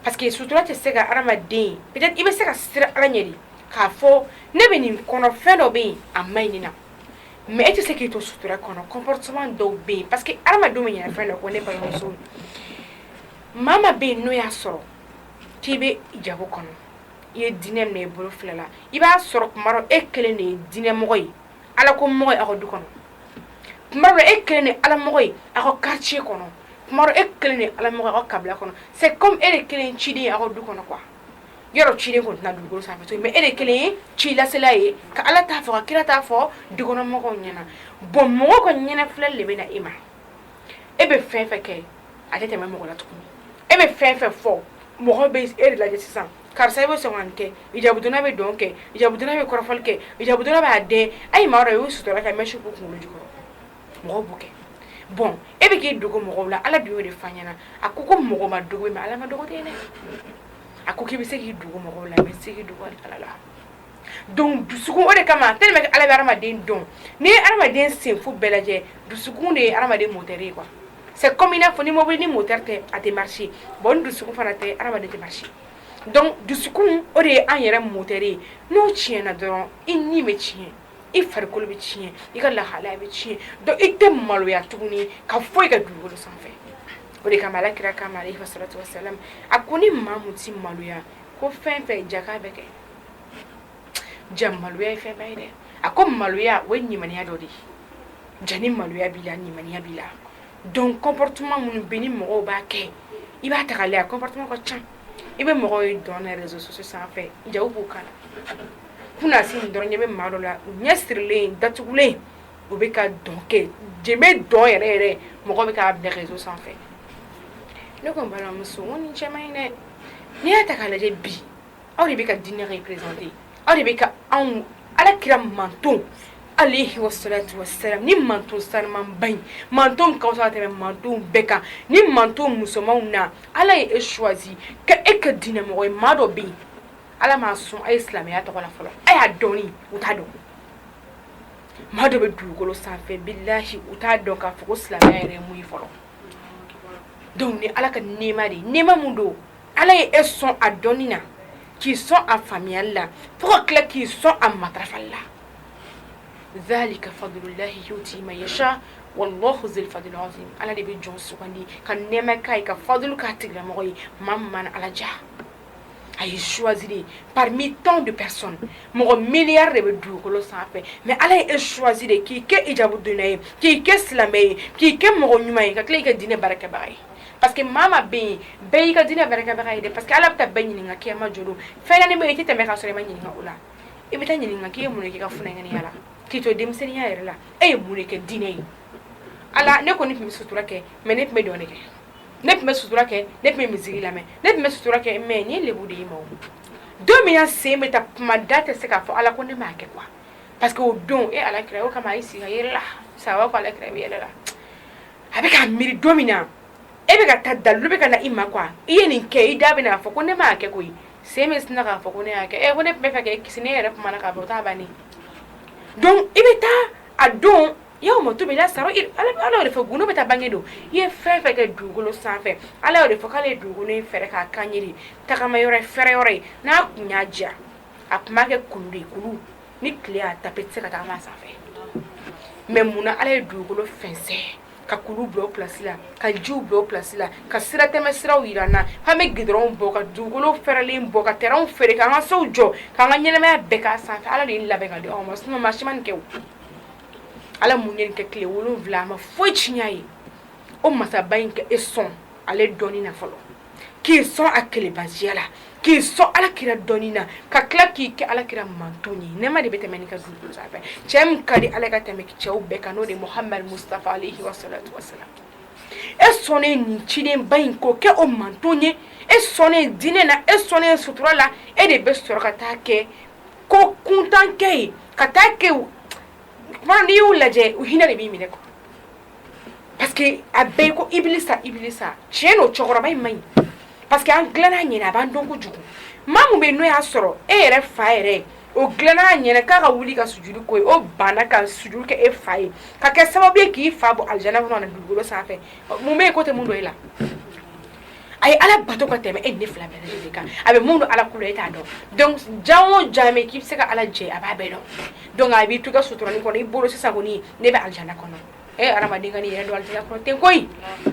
parce que sutura tɛ se ka hadamaden peut être i bɛ se ka siran Ala ɲɛ de k'a fɔ ne bɛ nin kɔnɔ fɛn dɔ bɛ yen a man ɲi nin na mais e tɛ se k'i to sutura kɔnɔ comportement dɔw bɛ yen parce que hadamadenw bɛ ɲinɛ fɛn dɔ kɔ ne balimamuso maa maa bɛ yen n'o y'a sɔrɔ k'i bɛ hijabu kɔnɔ i ye diinɛ minɛ i bolo fila la i b'a sɔrɔ tuma dɔ e kelen de ye diinɛmɔgɔ ye Ala ko mɔgɔ ye aw ka du kɔnɔ tuma dɔ e kelen de Ala mɔgɔ ye aw ka quartier kɔnɔ tuma dɔ e kelen de Ala mɔgɔ ye aw ka kabila kɔnɔ c'est comme e de kelen ye ciden ye aw ka du kɔnɔ quoi yɔrɔ ciden kɔni tɛ na dugukolo sanfɛ tun mais e de kelen ye cilasela ye ka Ala ta fɔ ka kira ta fɔ dukɔnɔ mɔgɔw ɲɛna bon mɔgɔw ka ɲɛnafilɛli de bɛ na e ma e bɛ fɛn fɛn kɛ a tɛ tɛmɛ mɔgɔ la tuguni e bɛ fɛn fɛn fɔ mɔgɔ bɛ e de lajɛ sisan karisa e bɛ sɔn kɛ hijabudonna bɛ dɔn kɛ hijabudonna bɛ kɔrɔfɔli kɛ hijabudonna b'a den a ye maa dɔn y'u sutura kɛ mɛ su ko kunkolo jukɔrɔ mɔgɔ b'u kɛ bon e bɛ k'i dogo mɔgɔw la ala dun'o de fa ɲɛna a ko ko mɔgɔ ma dogo ma ala ma dogolen dɛ a ko k'i bɛ se k'i dogo mɔgɔw la i bɛ se dogo ala la Donc dusukun o de kama tellement que Ala bɛ hadamaden dɔn, n'i ye hadamaden senfo bɛɛ lajɛ, dusukun de ye hadamaden moteur ye quoi, c'est comme i n'a fɔ ni mɔbili ni moteur tɛ a tɛ marcher bon ni dusukun fana tɛ hadamaden tɛ marcher donc dusukun o de ye an yɛrɛ moteur ye n'o tiɲɛna dɔrɔn i ni bɛ tiɲɛ, i farikolo bɛ tiɲɛ, i ka lahalaya bɛ tiɲɛ donc i tɛ maloya tuguni ka foyi kɛ dugukolo sanfɛ o de kama Ala kira k'a ma aleyihi salatu wa salam a ko ni maa min tɛ maloya ko fɛn fɛn ja k'a bɛ kɛ jaa maloya ye fɛn ba ye dɛ a ko maloya o ye limaniya dɔ de ye jaa ni maloya b'i la limaniya b'i la donc comportement minnu bɛ ni mɔgɔw b'a kɛ i b'a ta k'a lajɛ a comportement ka ca i bɛ mɔgɔw ye dɔn na réseaux sociaux sanfɛ hijabu kala kunna si nin dɔrɔn ɲɛ bɛ maa dɔ la ɲɛ sirilen datugulen o bɛ ka dɔn kɛ jenbe dɔn yɛrɛ yɛrɛ mɔgɔ bɛ k'a bila réseau sanfɛ ne ko n balimamuso n ko nin cɛ man ɲi dɛ n'i y'a ta k'a lajɛ bi aw de bɛ ka diinɛ representer aw de bɛ ka anw Ala kira mantonw aleyihi wa salatu wa salam nin manton sanumanba in manton min ka fusa ka tɛmɛ mantonw bɛɛ kan nin manton musomanw na Ala ye e choisi ka e kɛ diinɛmɔgɔ ye maa dɔ bɛ yen Ala m'a sɔn a ye silamɛya tɔgɔ la fɔlɔ a y'a dɔnni u t'a dɔn maa dɔ bɛ dugukolo sanfɛ bilahi u t'a dɔn k'a fɔ ko silamɛya yɛrɛ ye mun ye fɔlɔ donc nin Ala ka nɛɛma de ye nɛɛma min don ala ye e sɔn a dɔnni na k'i sɔn a faamuyali la fo ka tila k'i sɔn a matarafa la zalika fadululahi yutihi man yasha wallahu zul fadli ala de bɛ jɔn sugandi ka nɛɛma k'a ye ka fadu ka tigɛlamɔgɔ ye maman a lajɛ a y'i choisi parmi tant de personnes mɔgɔ miliyari de bɛ dugukolo sanfɛ mais ala ye e choisi de k'i kɛ hijabu donna ye k'i kɛ silamɛ ye k'i kɛ mɔgɔ ɲuman ye ka tila k'i kɛ diinɛ baarakɛbaga ye Parce que maa min bɛ yen bɛɛ y'i ka diinɛ baarakɛbaga ye dɛ parce que ala bɛ taa bɛɛ ɲininka kiyama don fɛn naani i tɛ tɛmɛ ka sɔrɔ i ma ɲininka o la i bɛ taa ɲininka k'i ye mun k'i ka funankɛya la k'i to denmisɛnninya yɛrɛ la e ye mun kɛ diinɛ ye ala ne kɔni tun bɛ sutura kɛ mais ne tun bɛ dɔn kɛ ne tun bɛ sutura kɛ ne tun bɛ musique lamɛn ne tun bɛ sutura kɛ mais ni lebu de ma don min sen bɛ taa kuma da tɛ se k'a fɔ ala ko ne m'a kɛ parce que o don e halaki o kama i sigi yɛrɛ la sa ala i yɛrɛ la a bɛ ka miiri don min na e bɛ ka taa dalu bɛ ka na i ma ko i ye nin kɛ i da b'a fɔ ko ne m'a kɛ koyi sen bɛ sin k'a fɔ ko ne y'a kɛ e ko ne bɛ fɛ k'e kisi ne yɛrɛ kuma k'a taa ban ne don i bɛ taa a don yawma tubla sarayiru ala de fɛ gundo bɛ taa bange don i ye fɛn o fɛn kɛ dugukolo sanfɛ ala de fɔ k'ale ye dugu in fɛ k'a k'an tagama yɔrɔ fɛɛrɛ yɔrɔ ye n'a tun y'a diya a tun b'a kɛ kulu de kulu ni tile y'a tape i tɛ se ka tagama a sanfɛ mais muna ala ye dugukolo fɛnsɛn ka kulu bila o place la ka jiw bila o place la ka sira tɛmɛ siraw yira an na k'an bɛ goudronw bɔ ka dugukolo fɛrɛlen bɔ ka terrainw feere k'an ka sow jɔ k'an ka ɲɛnamaya bɛɛ k'a sanfɛ ala de ye nin labɛn k'a di anw ma sinon maa si ma nin kɛ o ala min ye nin kɛ tile wolonwula a ma foyi tiɲɛ a ye o masaba in ka e sɔn ale dɔnni na fɔlɔ k'i sɔn a kelebasiya la k'i sɔn ala kira dɔnni na ka tila k'i kɛ ala kira manton ye nɛɛma de bɛ tɛmɛ nin kan dugukolo sanfɛ cɛ min ka di ala ka tɛmɛ cɛw bɛɛ kan n'o de muhamadu mustafa alehi wasalatu wasalam e sɔnnen nin cidenba in ko kɛ o manton ye e sɔnnen diinɛ na e sɔnnen sutura la e de bɛ sɔrɔ ka taa kɛ ko kuntankɛ ye ka taa kɛ n'i y'u lajɛ u hinɛ de b'i minɛ kɔ Parce que a bɛɛ ko ibilisa ibilisa tiɲɛ don cɛkɔrɔba in man ɲi parce que an dilanna a ɲɛ na a b'an dɔn kojugu ma min bɛ n'o y'a sɔrɔ e yɛrɛ fa yɛrɛ o dilanna a ɲɛ na k'a ka wuli ka sujudu k'o ye o banna ka sujudu kɛ e fa ye ka kɛ sababu ye k'i fa bɔ alijana kɔnɔ a nana dugukolo sanfɛ mun bɛ yen k'o tɛ min dɔn e la a ye ala bato ka tɛmɛ e ne fila bɛ a bɛ mun don ala e t'a dɔn ja o jaa k'i bɛ se ka ala jɛ a b'a bɛɛ dɔn a b'i to ka sutura kɔnɔ i bolo sisan kɔni ne bɛ alijinɛ kɔnɔ e ye adamaden ka yɛrɛ don kɔnɔ tɛ koyi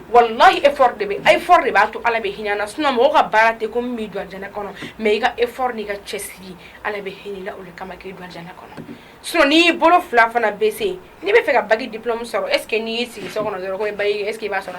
wala e de bɛ a fɔra de b'a to ala bɛ hinɛ na sun mɔgɔw ka baara tɛ ko min bɛ dɔnɛ kɔnɔ mɛ i ka e fɔra n' ka cɛ siri ala bɛ hinɛ i la o kama k'i don kɔnɔ so n'i bolo fila fana bɛ se n'i b'a fɛ ka bac diplôme sɔrɔ est-ce que n'i sigi so kɔnɔ dɔrɔn bac est-ce que i b'a sɔrɔ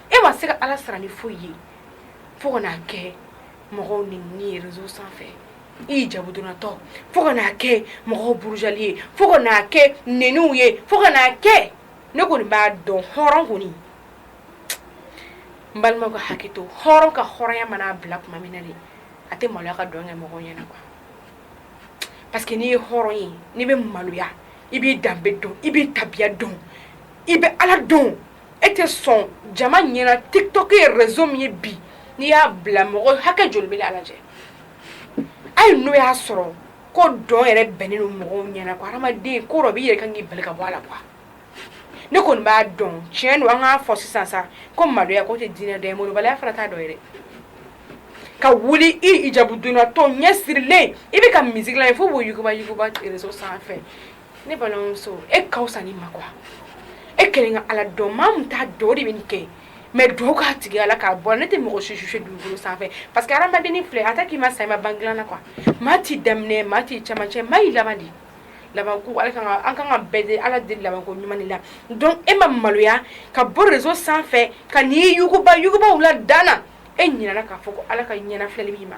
e ma se ka ala sara ni foyi ye fo kana'a kɛ mɔgɔw neni ye réseau sanfɛ i hijabu donnatɔ fo kana'a kɛ mɔgɔw burujali ye fo kana'a kɛ neniw ye fo kana'a kɛ ne kɔni b'a dɔn hɔrɔn kɔni n balimaw ka hakɛ to hɔrɔn ka hɔrɔnya mana'a bila tuma min na de a tɛ maloya ka dɔn kɛ mɔgɔ ɲɛna quoi parce que n'i ye hɔrɔn ye n'i bɛ maloya i b'i danbe dɔn i b'i tabiya dɔn i bɛ ala dɔn e tɛ sɔn jama ɲɛna tiktok ye réseau min ye bi n'i y'a bila mɔgɔ hakɛ joli bɛ a lajɛ hali n'o y'a sɔrɔ ko dɔn yɛrɛ bɛnnen don mɔgɔw ɲɛna ko hadamaden ko dɔ b'i yɛrɛ kan k'i bali ka bɔ a la quoi ne kɔni b'a dɔn tiɲɛ don an k'a fɔ sisan sa ko maloya ko tɛ diinɛ dɔ ye malobaliya fana t'a dɔ ye dɛ ka wuli i hijabu donnatɔ ɲɛ sirilen i bɛ ka musique la fo b'o yuguba yuguba réseau sanfɛ ne balimamuso e ka fisa ni ma quoi e kelen ka Ala dɔn maa min t'a dɔn o de bɛ nin kɛ mais dugawu k'a tigi ye Ala k'a bɔ a la ne tɛ mɔgɔ si juger dugukolo sanfɛ parce que hadamadennin filɛ en tant que i ma sa i ma ban dilan na quoi maa t'i daminɛ maa t'i cɛmancɛ maa y'i laban de ye laban ko Ala ka kan ka an ka kan ka bɛɛ deli Ala deli laban ko ɲuman de la donc e ma maloya ka bɔ réseau sanfɛ ka n'i yuguba yuguba u la dan na e ɲinɛna k'a fɔ ko Ala ka ɲɛnafilɛli b'i ma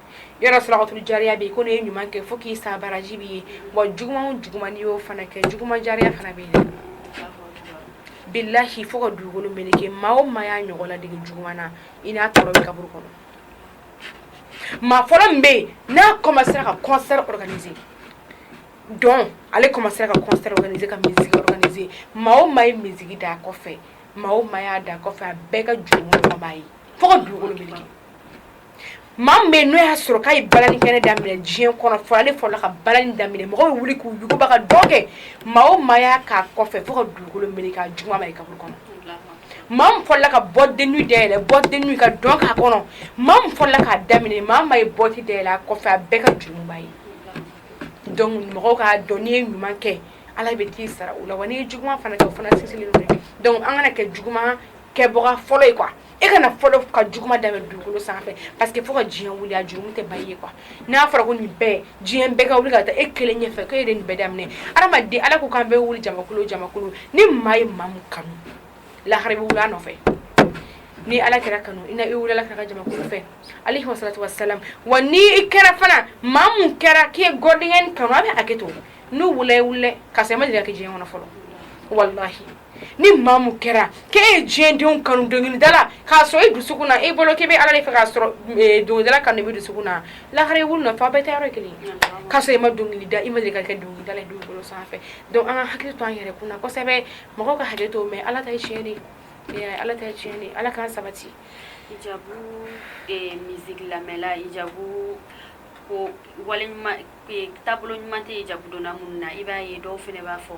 sarakatul jariya bɛ yen ko n'e ye ɲuman kɛ fo k'i sa baraji b'i ye wa juguman juguman y'o fana kɛ juguman jariya fana bɛ yen bilahi fo ka dugukolo meleke maa o maa y'a ɲɔgɔn ladege juguman na i n'a tɔɔrɔ bɛ kaburu kɔnɔ maa fɔlɔ min bɛ yen n'a commencera ka concert organiser donc ale commencera ka concert organiser ka musique organiser maa o maa ye musique da a kɔfɛ maa o maa y'a da a kɔfɛ a bɛɛ ka jurumu kɔni b'a ye fo ka dugukolo meleke maa min bɛ yen n'o y'a sɔrɔ k'a ye balani kɛnɛ daminɛ diɲɛ kɔnɔ fɔ ale fɔlɔ ka balani daminɛ mɔgɔw bɛ wuli k'u yuguba ka dɔn kɛ maa o maa y'a k'a kɔfɛ fo ka dugukolo meleke a juguman mari kaburu kɔnɔ maa min fɔlɔla ka boîte de nuit dayɛlɛ boîte de nuit ka dɔn k'a kɔnɔ maa min fɔlɔla k'a daminɛ maa o maa ye boîte dayɛlɛ a kɔfɛ a bɛɛ ka jurumu b'a ye donc mɔgɔw k'a dɔn n'i ye ɲuman kɛ Ala bɛ t'i sara o la wa n'i ye juguman fana kɛ o fana sinsinnen don donc an kana kɛ juguman kɛbaga fɔlɔ ye quoi e kana fɔlɔ ka juguman daminɛ dugukolo sanfɛ parce que fo ka diɲɛ wuli a jurumu tɛ ban e ye quoi n'a fɔra ko nin bɛɛ diɲɛ bɛɛ ka wuli ka taa e kelen ɲɛfɛ ko e de nin bɛɛ daminɛ adamaden ala ko k'an bɛ wuli jamakulu jamakulu ni maa ye maa min kanu lahara bɛ wuli a nɔfɛ ni ala kira kanu i na e wulila k'a ka jamakulu fɛ alayhi salatu wassalam wa ni i kɛra fana maa min kɛra k'i ye gɔdingɛni kanu a bɛ hakɛ to n'u wulila i wulila ka sɔrɔ i ma deli ka kɛ diɲɛ kɔnɔ fɔlɔ walahi ni maa min kɛra k'e ye diɲɛdenw kanu dɔnkilidala k'a sɔrɔ i dusukun na e bolo k'i bɛ Ala de fɛ k'a sɔrɔ dɔnkilidala kanu de b'i dusukun na lahara i wili a nɔfɛ aw bɛɛ taa yɔrɔ ye kelen ye k'a sɔrɔ i ma dɔnkili da i ma deli ka kɛ dɔnkilidala ye dugukolo sanfɛ donc an ka hakili to an yɛrɛ kun na kosɛbɛ mɔgɔw ka hakɛ to mais Ala ta ye tiɲɛ de ye i y'a ye Ala ta ye tiɲɛ de ye Ala k'an sabati. Hijabu eh, musique lamɛnla hijabu ko wale ɲuman eh, taabolo ɲuman tɛ hijabu donna minnu na i b'a ye dɔw fana b'a fɔ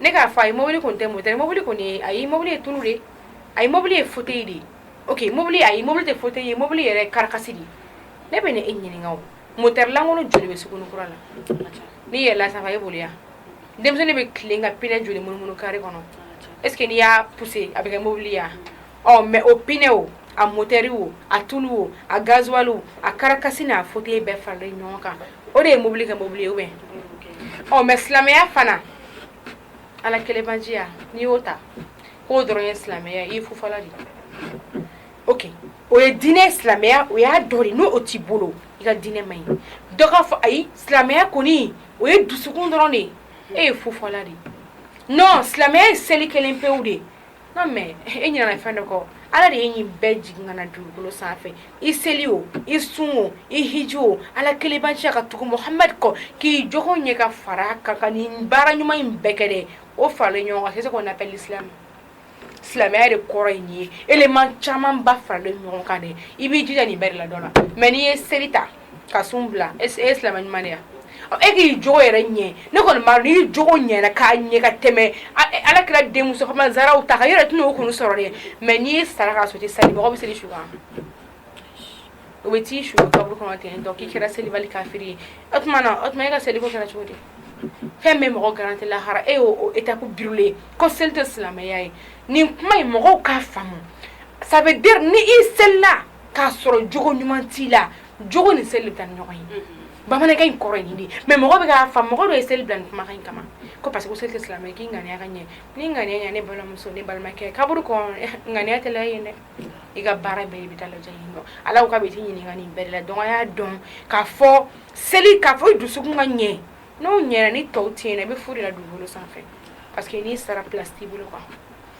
ne k'a fɔ ayi mobili tun tɛ motɛri mobili kɔni ayi mɔbili ye tulu de ayi mɔbili ye fauteuil de ok mɔbili ayi mɔbili tɛ fauteuil ye mɔbili yɛrɛ karikasi de ne bɛna e ɲininka aw motɛri lankolon joli bɛ sugunikura la n'i yɛlɛla sanfɛ e boli yan denmisɛnnin bɛ tilen ka pinɛ joli munumunu kare kɔnɔ est-ce que n'i y'a pousser a bɛ kɛ mɔbili ye wa ɔ mais o pinɛ o a motɛri o a tulu o a gazuwali a karikasi n'a fauteuil bɛɛ fara ɲɔgɔn kan o de ye mobili kɛ mobili ye ɔ mais silamɛya fana ala kelenjiya n'i y'o ta k'o dɔrɔn ye silamɛya i fu fɔla de o o ye diinɛ silamɛya o y'a dɔ ye n'o t'i bolo i ka diinɛ man ɲi dɔ k'a fɔ ayi silamɛya kɔni o ye dusukun dɔrɔn de ye e ye fufɔla de ye silamɛya ye seli kelen pe de ye mais e ɲinana fɛn dɔ kɔ ala de ye nin bɛɛ jigin ka na dugukolo sanfɛ i seli o i sun o i hiji o ala kelenbacɛ ka tugu muhamadu kɔ k'i jogo ɲɛ ka fara a kan ka nin baara ɲuman in bɛɛ kɛ dɛ o faralen ɲɔgɔn c'est ce qu'on appelle islam silamɛya de kɔrɔ ye nin ye élément caman ba faralen ɲɔgɔn kan dɛ i b'i jija nin bɛɛ ladon na mais n'i ye seli ta ka sun bila e ye silamɛ ɲuman ye wa e k'i jogo yɛrɛ ɲɛ ne kɔni n jogo ɲɛ k'a ɲɛ ka tɛmɛ ala kira denmuso masaw ta kan yɛrɛ tun o kun sɔrɔ ye mais ni e sara ka sa mɔgɔ bɛ seli su o bɛ t'i su kaburu kɔnɔ ten dɔn k'i kɛra seli kafiri ye o tuma o tuma e ka seli kɛra cogo di fɛn bɛ mɔgɔ garantir lahara e y'o e ta ko bilen ko seli tɛ silamɛya ye nin kuma ye mɔgɔw k'a faamu sabu ni i selila k'a sɔrɔ jogo ɲuman t'i la jogo ni seli bɛ taa ni ɲɔgɔn ye mm-hmm. bamanankan in kɔrɔ ye nin de ye mais mɔgɔ bɛ k'a faamu mɔgɔ dɔ ye seli bila nin kumakan in kama ko parce que ko seli tɛ silamɛ k'i ŋaniya ka ɲɛ ni ŋaniya ɲɛ ne balimamuso ne balimakɛ kaburu kɔnɔ ŋaniya tɛ lajɛ dɛ i ka baara bɛɛ i bɛ taa lajɛ yen nɔ ala ko k'a bɛ t'i ɲininka nin bɛɛ de la donc a y'a dɔn k'a fɔ seli k'a fɔ i dusukun ka ɲɛ n'o ɲɛna ni tɔw tɛ yen nɔ i bɛ fu de la dugukolo sanfɛ parce que n'i sara place t'i bolo quoi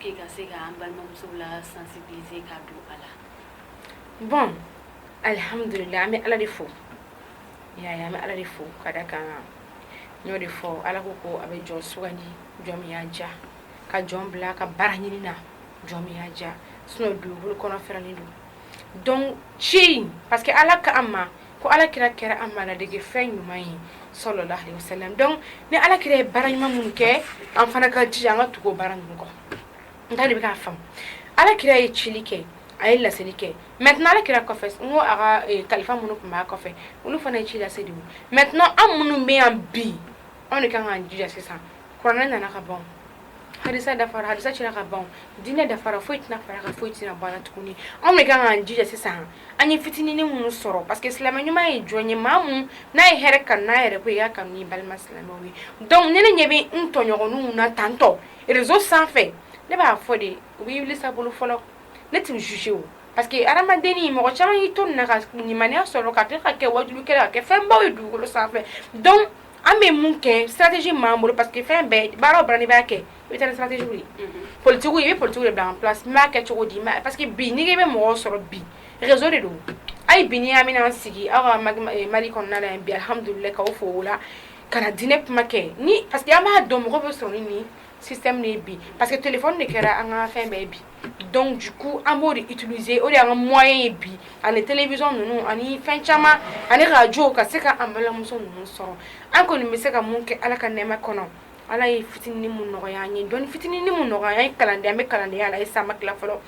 K'i ka se k'an balimamuso la sansibilise ka don a la bon alihamdulila an bɛ ala de fo y'a an bɛ ala de fo ka d'a kan n y'o de fɔ ala ko ko a bɛ jɔn sugandi jɔn min y'a diya ka jɔn bila ka baara ɲini na jɔn min y'a diya sinon dugukolo kɔnɔ fɛrɛlen don donc c'est parce que ala ka an ma ko ala kira kɛra an ma ladege fɛn ɲuman ye salalahu alayhi wasalam donc ni ala kira ye baara ɲuman minnu kɛ an fana ka jija an ka tugu baara ninnu kɔ n'i b'a faamu ala kira ye cili kɛ a ye laseli kɛ mais ala kira kɔfɛ n ko a ka eh, kalifa minnu tun b'a kɔfɛ olu fana ye ci lase dɛ mais an minnu bɛ yan bi anw de kan ka jija sisan kuranɛ nana ka ban hadisa dafara hadisa cira ka ban diinɛ dafara foyi tɛna fara a kan foyi tɛna bɔ a la tuguni anw de kan k'an jija sisan an ye fitinini minnu sɔrɔ parce que silamɛ ɲuman ye jɔn ye maa min n'a ye hɛrɛ kanu n'a yɛrɛ ko i y'a kanu n'i balima silamɛw ye donc ne ne ɲɛ bɛ n tɔɲɔgɔninw na tantôt réseau sanfɛ ne b'a fɔ de u b'i wuli sa bolo fɔlɔ ne t'u juger o parce que hadamadenni mɔgɔ caman y'i to nin na ka limaniya sɔrɔ ka tila ka kɛ wajulukɛla ka kɛ fɛnbaw ye dugukolo sanfɛ donc An bɛ mun kɛ stratégie b'an bolo parce que fɛn bɛɛ baara baara b'a kɛ i bɛ stratégie politigi i bɛ politigi de bila b'a kɛ cogo di ma parce que bi n'i bɛ mɔgɔw sɔrɔ bi réseau de don a ye bi n'i y'a mɛn an sigi aw ka mali kɔnɔna yan bimdkaw fɔ o la ka na diinɛ kuma kɛ ni parce que an b'a dɔn mɔgɔ bɛ sɔrɔ ni sisan bi parce que télé de kɛra an ka fɛn bɛɛ bi donc an b'o de utiliser o de y'an ka moyen ye bi ani télévision ninnu ani fɛn caman ani arajo ka se ka an balimamuso ninnu sɔrɔ an kɔni bɛ se ka mun kɛ ala ka nɛmɛ kɔnɔ ala ye fitinin nɔgɔya an ye dɔnni fitinin nɔgɔya an ye kalanden an bɛ kalandenya la halisa fɔlɔ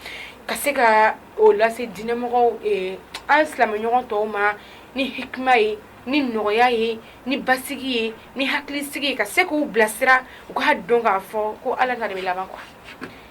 ka se ka o lase diinɛmɔgɔ an silamɛɲɔgɔn tɔw ma ni hikima ye ni nɔgɔya ye ni basigi ye ni hakilisigi ka se k'u bilasira u ka dɔn k'a fɔ ko ala kan de bɛ laban quoi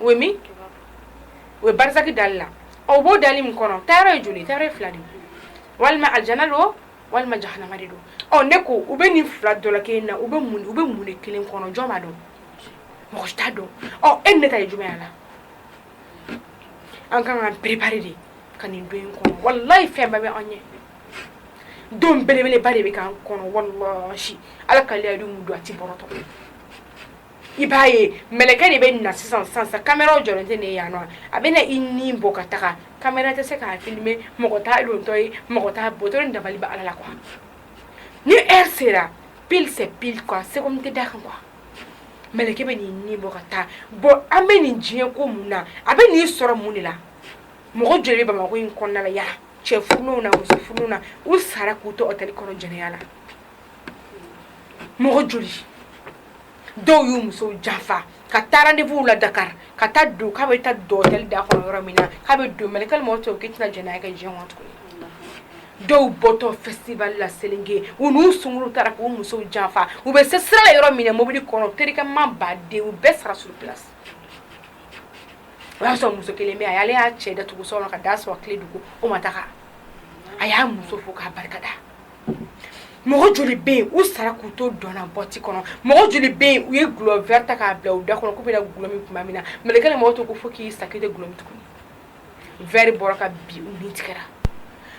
o min o barzak da la o b'o da min kɔnɔ taayɔrɔ ye joli taayɔrɔ fila de walima alijana don walima jahanama de don ne ko u bɛ nin fila dɔ kelen na u bɛ mun u bɛ mun de kelen kɔnɔ jɔn b'a dɔn mɔgɔ t'a dɔn e ne ta ye jumɛn y'a la an ka kan ka préparer de ka nin don kɔnɔ walayi fɛn bɛɛ bɛ anw ye don belebeleba de bɛ k'an kɔnɔ wala ala ka'ale don a tɛ bɔratɔ i b'a ye mɛlɛkɛ de bɛ na sisan sisan sisan caméra jɔlen tɛ nin ye yan nɔ a bɛ na i ni bɔ ka taga caméra tɛ se k'a filmer mɔgɔ t'a dontɔ ye mɔgɔ t'a bɔtɔ ye dabali bɛ Ala la quoi ni heure sera pile c'est pile quoi seconde tɛ d'a kan quoi mɛlɛkɛ bɛ n'i ni bɔ ka taa bon an bɛ nin diɲɛ kɔ mun na a bɛ n'i sɔrɔ mun de la mɔgɔ joli bɛ Bamakɔ in kɔnɔna la yala cɛ furulenw na muso furulenw na u sara k'u to hôtel kɔnɔ jɛnɛya la mɔgɔ joli dɔw y'u musow janfa ka taa rendez-vous la dakari ka taa don k'a bɛ taa dɔli da kɔnɔ yɔrɔ min na k'a bɛ don mɛ k'aw cɛ k'i tɛna jɛnɛ kɛ jɛ tuguni dɔw bɔtɔ festival la selenge u n'u sungurun taara k'u musow janfa u bɛ se sira yɔrɔ min mobili kɔnɔ terikɛ ma ba den u bɛɛ sara suru bila o y'a sɔrɔ muso kelen bɛ a ale y'a cɛ da tugu sɔrɔ ka da sɔrɔ tile dugu o ma daga a y'a muso fo k'a barika da mɔgɔ joli bɛ yen u sara k'u to dɔn na boîte kɔnɔ mɔgɔ joli bɛ yen u ye gulɔ vɛri ta k'a bila u da kɔnɔ k'u bɛna gulɔ min tuma min na mɛlɛkɛ mawuti ko fo k'i sa k'i tɛ gulɔ min tuguni vɛri bɔra ka bin u ni tigɛra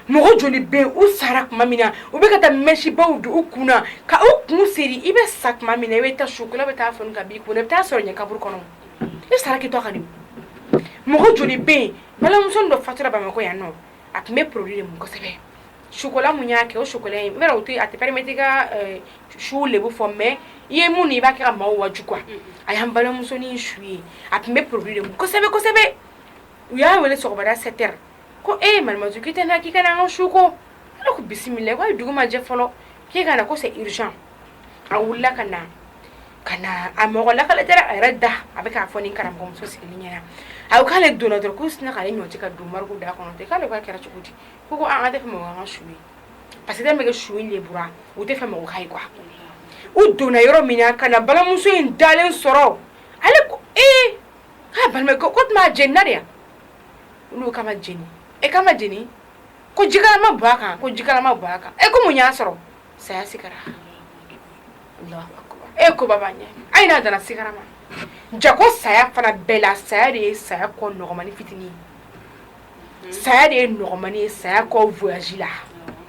mɔgɔ joli bɛ yen u sara tuma min na u bɛ ka taa mɛsibaw don u kun na ka u kun seri i bɛ sa tuma min na i bɛ taa sukola bɛ taa fɔ ka b'i kun i bɛ taa sɔrɔ ɲɛ kaburu kɔnɔ i sara k'i to ka di mɔgɔ joli bɛ yen balimamuso dɔ fatura bamakɔ yan nɔ a tun bɛ produit de kosɛbɛ sukola min y'a kɛ o su tɛ a tɛmɛ ka su de bɛ fɔ mɛ i ye mun i b'a kɛ maaw waju kuwa a y'an balimamusosonin su ye a tun bɛ produit kosɛbɛsɛbɛ u y'a wele sɔgɔma sept heures ko e ye marasu tɛ k'i ka an ka su ko bisimila ko ayi dugu ma jɛ fɔlɔ k'i ka na ko c'est urgent a wulila ka na ka na a mɔgɔ lakali a yɛrɛ da a bɛ k'a fɔ ni karamɔgɔmuso sigilen ɲɛ na a ko k'ale donna dɔrɔn k'u sinna k'ale ɲɔti ka don morgue da kɔnɔ ten k'ale k'a kɛra cogo di ko ko an ka tɛ fɛ mɔgɔ an ka su ye parce que bɛ kɛ su in de bura u t'a fɛ mɔgɔ k'a ye quoi u donna yɔrɔ min na ka na balimamuso in dalen sɔrɔ ale ko ee k'a balima ko tuma a jenina de yan olu k'a ma jeni e k'a ma jeni ko jikalan ma bɔn a kan ko jikalan ma bɔn a kan e ko mun y'a sɔrɔ saya sigira e ko baba ayi n'a danna sigara ma janko saya fana bɛɛ la saya de ye saya kɔ nɔgɔmani fitinin ye saya de ye nɔgɔmani ye saya kɔ voyage la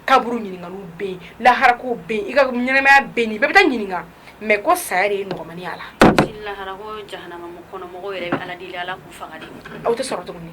kaburu ɲininkaliw bɛ yen laharako bɛ yen i ka ɲɛnamaya bɛ yen bɛɛ bɛ taa ɲininka mɛ ko saya de ye nɔgɔmani y'a la laharako jahanama kɔnɔ mɔgɔw yɛrɛ bɛ ala deli ala k'u faga de aw tɛ sɔrɔ tuguni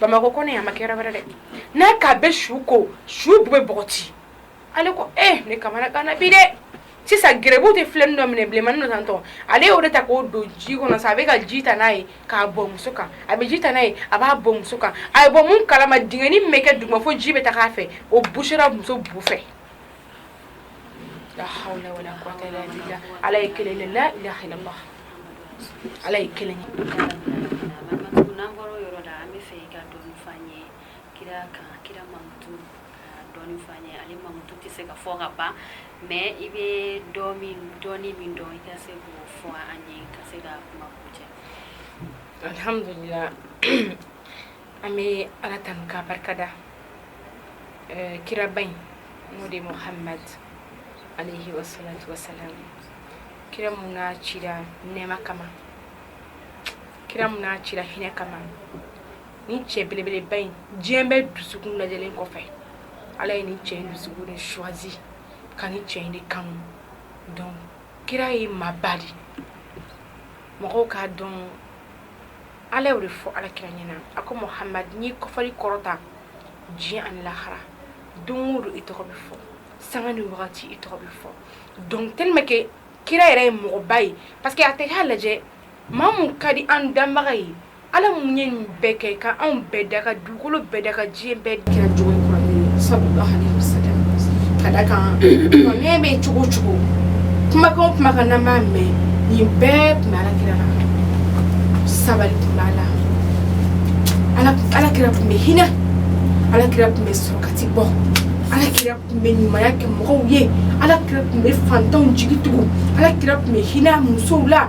Bamakɔ kɔnɔ a ma kɛ yɔrɔ wɛrɛ dɛ n'a k'a bɛ su ko su bu bɛ bɔgɔti ale ko e ne kamanaganna bi dɛ sisan gɛrɛbu de filennin dɔ minɛn bilenmani nana tɔ ale y'o de ta k'o don ji kɔnɔ sa a bɛ ka ji ta n'a ye k'a bɔn muso kan a bɛ ji ta n'a ye a b'a bɔn muso kan a ye bɔ kalama dingɛnin bɛ kɛ dugu ma fo ji bɛ taa' fɛ o busera muso bu fɛ la hawla wala quwwata illa billah ala ye kelen de la ilaha illallah ala ye kelen ye n'an bɔra o yɔrɔ la an b'a fɛ i ka dɔɔni f'an ye kira kan kira mankutu ka dɔɔni f'an ye ale mankutu tɛ se ka fɔ ka ban mais i bɛ dɔ min dɔɔni min dɔn i ka se k'o fɔ an ye ka se ka kuma kuncɛ alhamdulillah an bɛ ala tanu ka barika da kiraba in n'o de muhamad aleyi salatu wasalam kira min n'a cira nɛɛma kama kira min n'a cira hinɛ kama nin cɛ belebeleba in diɲɛ bɛɛ dusukun lajɛlen kɔfɛ ala ye nin cɛ dusukun de choisi ka nin cɛ in de kanu dɔn kira ye maaba de mɔgɔw k'a dɔn ala y'o de fɔ alakira ɲɛna a ko muhamad n y'i kɔfɔli kɔrɔta diɲɛ ani lahara don o don i tɔgɔ bɛ fɔ sanga ni wagati i tɔgɔ bɛ fɔ donc tellement que kira yɛrɛ ye mɔgɔba ye parce que a tɛ k'a lajɛ maa min ka di an danbaga ye ala min ye nin bɛɛ kɛ ka anw bɛɛ da ka du kolo bɛɛ da ka diɲɛ bɛɛ kira jɔn ye kira ka da kan ne bɛ cogo o cogo kumakan kuma ka na mɛn nin bɛɛ tun b'ala kira la sabali tun b'a la ala kira tun bɛ hinɛ ala kira tun bɛ sarakati bɔ ala kira tun bɛ ɲumanya kɛ mɔgɔw ye ala kira tun bɛ fantanw jigi tugu ala kira tun bɛ hinɛ musow la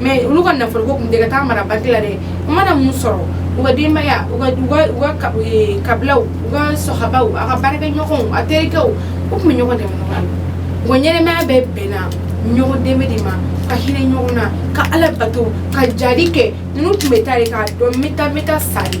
mais olu ka nafolo ko tun tɛ ka taa mara banki la dɛ u mana min sɔrɔ u ka denbaya u ka kabilaw u ka sahabaw a ka baarakɛɲɔgɔnw a terikɛw u tun bɛ ɲɔgɔn dɛmɛ u ka ɲɛnamaya bɛɛ bɛnna ɲɔgɔn dɛmɛ de ma ka hinɛ ɲɔgɔn na ka ala bato ka jihadi kɛ ninnu tun bɛ taa k'a dɔn bɛ taa bɛ taa sari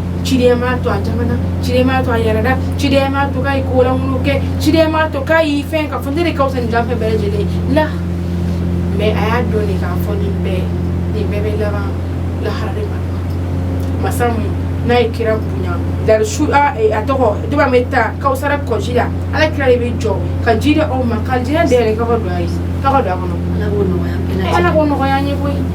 ci to a to a yɛrɛ da ci to ka kolankolon kɛ ci to ka fɛn ka fɔ ne ka fisa jɔn bɛɛ lajɛlen la mais a y'a dɔn de k'a fɔ nin bɛɛ nin bɛɛ bɛ laban lahara de ma masa min n'a ye kira bonya dari su a tɔgɔ duba bɛ taa kawusara kɔji la ala kira de bɛ jɔ ka ji di aw ma ka alijinɛ da yɛlɛ ka don a ye ka don a kɔnɔ ala k'o nɔgɔya an ye koyi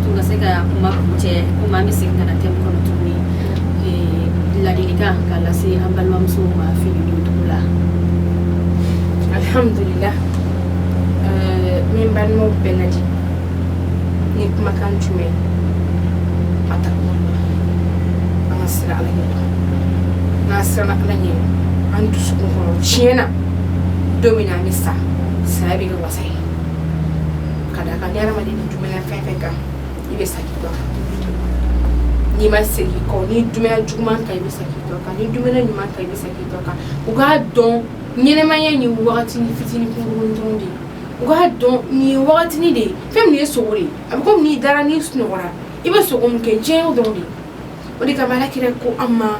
Ka se ka kuma cɛ ko an bɛ segin ka thème kɔnɔ tuguni laadili ka lase an balimamusow ma fini dugu la alihamdulilahi n b'an balima bɛɛ laadi nin kumakan jumɛn a ta an ka siran ala ɲɛ n'an siranna ala ɲɛ an dusu kɔnɔ tiɲɛ na don min an bɛ sa saya bɛ wasa ye ka da kan ni adamaden ni dumuni fɛn o fɛn kan i bɛ sa k'i to o kan n'i ma segin kɔ ni dumuni juguman kan i bɛ sa k'i to o kan ni dumuni ɲuman kan i bɛ sa k'i to o kan u k'a dɔn ɲɛnamaya nin wagatini fitini kunkurun dɔrɔn de ye u k'a dɔn nin ye wagatini de ye fɛn min ye sugo de ye a bɛ komi n'i dara n'i sunɔgɔra i bɛ sugo min kɛ diɲɛ dɔrɔn de o de kama ala kira ko an ma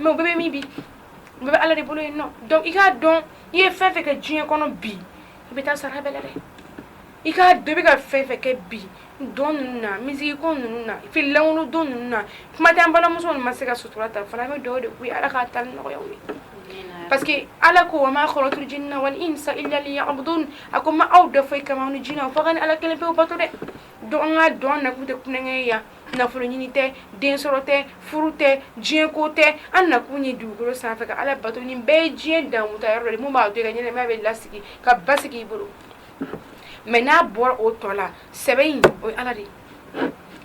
mɛ o bɛɛ bɛ min bi bɛɛ bɛ ala de bolo yen dɔn i k'a dɔn i ye fɛn o fɛn kɛ diɲɛ kɔnɔ bi i bɛ taa sara bɛɛ dɛ i k'a dɔ bɛ ka fɛn o fɛn kɛ bi dɔn ninnu na misiki ninnu na finikolon don ninnu na kumajan balimamuso ma se ka sutura ta fana bɛ dɔw de ko ala k'a ta nɔgɔya ye parce que ala ko ma khalaqtul jinna wal insa illa a ko ma aw dan foyi kan diɲɛ na fo ka ala kelen pe bato dɛ dɔgɔ dɔn na tɛ tulonkɛ yan nafoloɲini tɛ densɔrɔ tɛ furu tɛ diɲɛko tɛ an nakun ye dugukolo sanfɛ ka ala bato ni bɛɛ ye diɲɛ dankun yɔrɔ de min b'a dɔn ka ɲɛnama bɛ lasigi ka basigi i bolo mɛ n'a bɔra o tɔ la sɛbɛ in o ye ala de ye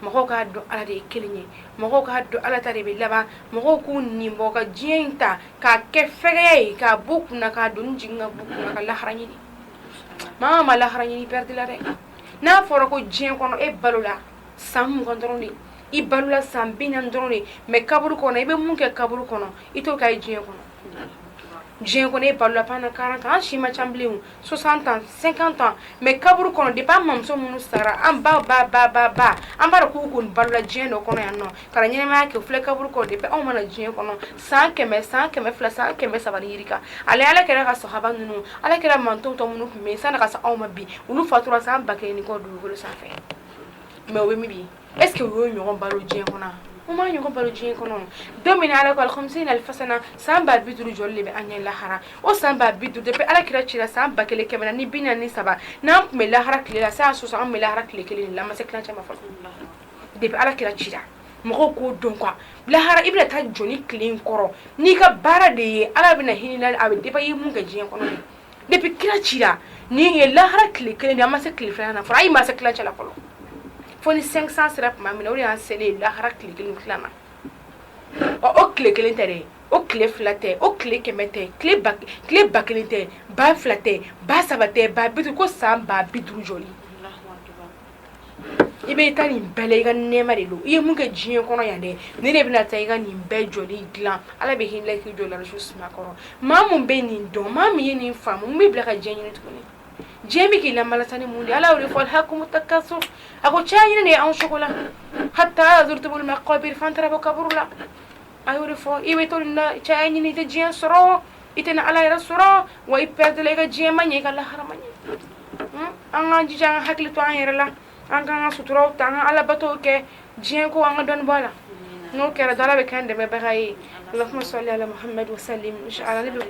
mɔgɔw k'a dɔn ala de ye kelen ye mɔgɔw k'a dɔn ala ta de bɛ laban mɔgɔw k'u nin bɔ ka diɲɛ in ta k'a kɛ fɛgɛya ye k'a bɔ kun na k'a don jigin ka bɔ kun ka lahara ɲini maa ma lahara ɲini pɛrɛdila dɛ n'a fɔra ko diɲɛ kɔnɔ e balola san mugan dɔrɔn de i balola san bi naani dɔrɔn de mais kaburu kɔnɔ i bɛ mun kɛ kaburu kɔnɔ i t'o kɛ diɲɛ kɔnɔ diɲɛ kɔnɔ e balola pendant 40 ans an si ma ca bilen o 60 ans 50 ans mais kaburu kɔnɔ depuis an mamuso minnu sara an ba ba ba ba ba an b'a dɔn k'u kɔni balola diɲɛ dɔ kɔnɔ yan nɔ ka na ɲɛnamaya kɛ u filɛ kaburu kɔnɔ depuis anw ma na diɲɛ kɔnɔ san kɛmɛ san kɛmɛ fila san kɛmɛ saba ni yirika hali ala kira ka sahaba ninnu ala kira mantɔn tɔ minnu tun bɛ yen sanni ka se anw ma bi olu fatura san ba kelen ni kɔ dugukolo sanfɛ mɛ o bɛ min bi est ce que o y'o ɲɔgɔn balo diɲɛ kɔnɔ o m'o ɲɔgɔn balo diɲɛ kɔnɔ don min na ala ko khamsina alfa sana san ba bi duuru jɔli de bɛ an ɲɛ lahara o san ba bi duuru depuis ala kira cira san ba kelen kɛmɛ naani bi naani ni saba n'an tun bɛ lahara tile la san sɔsɔ an bɛ lahara tile kelen de la an ma se tilancɛ ma fɔlɔ depuis ala kira cira mɔgɔw k'o dɔn quoi lahara i bɛna taa jɔ nin tile in kɔrɔ n'i ka baara de ye ala bɛna hinɛ a bɛ dépend i ye mun kɛ diɲɛ kɔnɔ de depuis kira cira nin ye lahara tile kelen de an ma se tile filanan na fɔlɔ ayi ma se tilancɛ la fɔlɔ fo ni 500 sera tuma min na o de y'an selen ye lahara tile kelen tila na ɔ o tile kelen tɛ dɛ o tile fila tɛ o tile kɛmɛ tɛ tile ba tile ba kelen tɛ ba fila tɛ ba saba tɛ ba bi duuru ko san ba bi duuru jɔli i bɛ i ka nin bɛɛ la i ka nɛma de don i ye mun kɛ diɲɛ kɔnɔ yan dɛ ni de bɛna taa i ka nin bɛɛ jɔ dilan ala bɛ hinɛ k'i jɔ la su suma kɔrɔ maa min bɛ nin dɔn maa min ye nin faamu bɛ bila ka diɲɛ ɲini tuguni diɲɛ bɛ k'i la tan ni mun de ala de y'a fɔ alhakumu takasur a ko caya ɲini de ye anw sogo la hatta zurtumul maqabir fo an taara bɔ kaburu la a y'o de fɔ i bɛ to caya ɲini i tɛ diɲɛ sɔrɔ i tɛna ala yɛrɛ sɔrɔ wa i pɛrɛdila i ka diɲɛ ma ɲɛ i ka lahara ma ɲɛ an ka jija an hakili to an yɛrɛ la an ka ka suturaw ta an ka ala bato kɛ diɲɛ ko an ka dɔnni la n'o kɛra ala bɛ kɛ dɛmɛbaga ye ala bɛ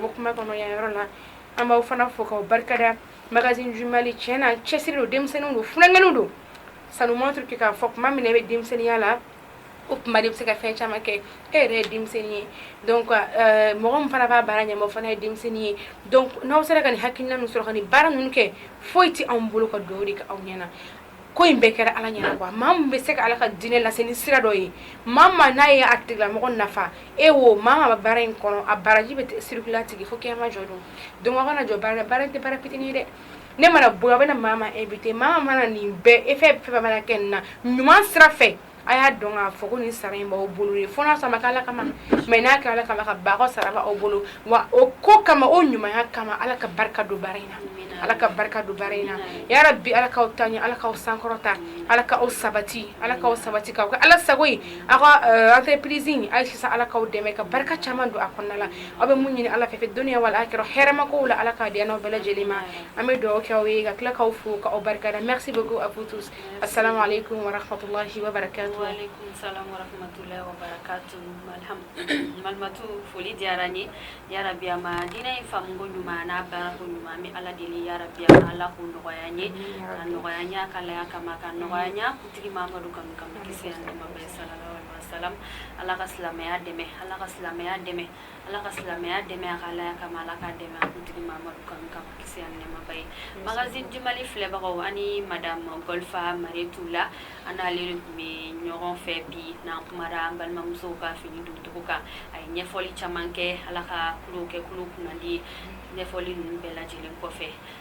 bɔ kuma kɔnɔ yan yɔrɔ la allahumma salli ala muhammad wa sallim an b'aw fana fo ka barikada makan j cɛ na cɛsiri don denmisɛnnin don funankɛninw don sanumatouru k'a fɔ tuma min bɛ denmisɛnninya la o kuma de bɛ se ka fɛn caman kɛ e yɛrɛ ye denmisɛnnin ye donc euh, mɔgɔ min fana b'a baara ɲɛmɔgɔ fana ye denmisɛnnin ye donc n'aw sera ka nin hakilina min sɔrɔ ka nin baara ninnu kɛ foyi tɛ anw bolo ka dugawu de kɛ aw ɲɛna ko in bɛɛ kɛra ala ɲɛna quoi maa min bɛ se ka ala ka diinɛ lase ni sira dɔ ye maa ma n'a ye a tigilamɔgɔ nafa e wo maa ma bɛ baara in kɔnɔ a baraji bɛ sirikula tigi fo kiyama jɔ don donc aw kana jɔ baara la baara tɛ baara fitinin ye dɛ ne mana bɔ a bɛ maa ma invité maa mana nin bɛɛ e fɛ fɛn mana kɛ na ɲuman sira fɛ a y'a dɔn k'a fɔ ko nin sara in b'aw bolo ye fo n'a sɔrɔ ma kɛ ala kama mais n'a kɛra ala kama ka ba sara aw bolo wa o ko kama o ɲumanya kama ala ka barika don baara in na ala ka barika don baara in na yarabi ala k'aw taa ɲɛ ala k'aw sankɔrɔta ala ka aw sabati ala k'aw sabati ka kɛ ala sago ye aw ka entreprise ayi ye sisan ala k'aw dɛmɛ ka barika caman don a kɔnɔna la aw bɛ mun ɲini ala fɛ fi duniya wal akira hɛrɛma ko la ala k'a di an n'aw bɛɛ lajɛlen ma an bɛ dugawu kɛ aw ye ka tila k'aw fo k'aw barika merci beaucoup a koto a salenle ko wara fato balimatu foli diyara an ye yarabiyanma diinɛ in fako ɲuman n'a bako ɲuman bɛ ala deli yarabiya ala k'o nɔgɔya an ye nɔgɔya a ka alaya kama k'a nɔgɔya a kuntigi mamadu kanu kama sa salam ala ka silamɛya dɛmɛ ala ka silamɛya dɛmɛ ala ka silamɛya dɛmɛ a ka alaya kama ala ka dɛmɛ a kuntigi mamadu kanu kama kisi ani nɛɛma b'a ye magazine du mali filɛbagaw ani madame golfa mariétou lah an n'ale de tun bɛ ɲɔgɔn fɛ bi n'an kumara an balimamusow ka fini doncogo kan a ye ɲɛfɔli caman kɛ ala ka kulu kɛ kulu kunnandi ɲɛfɔli ninnu bɛɛ lajɛlen kɔfɛ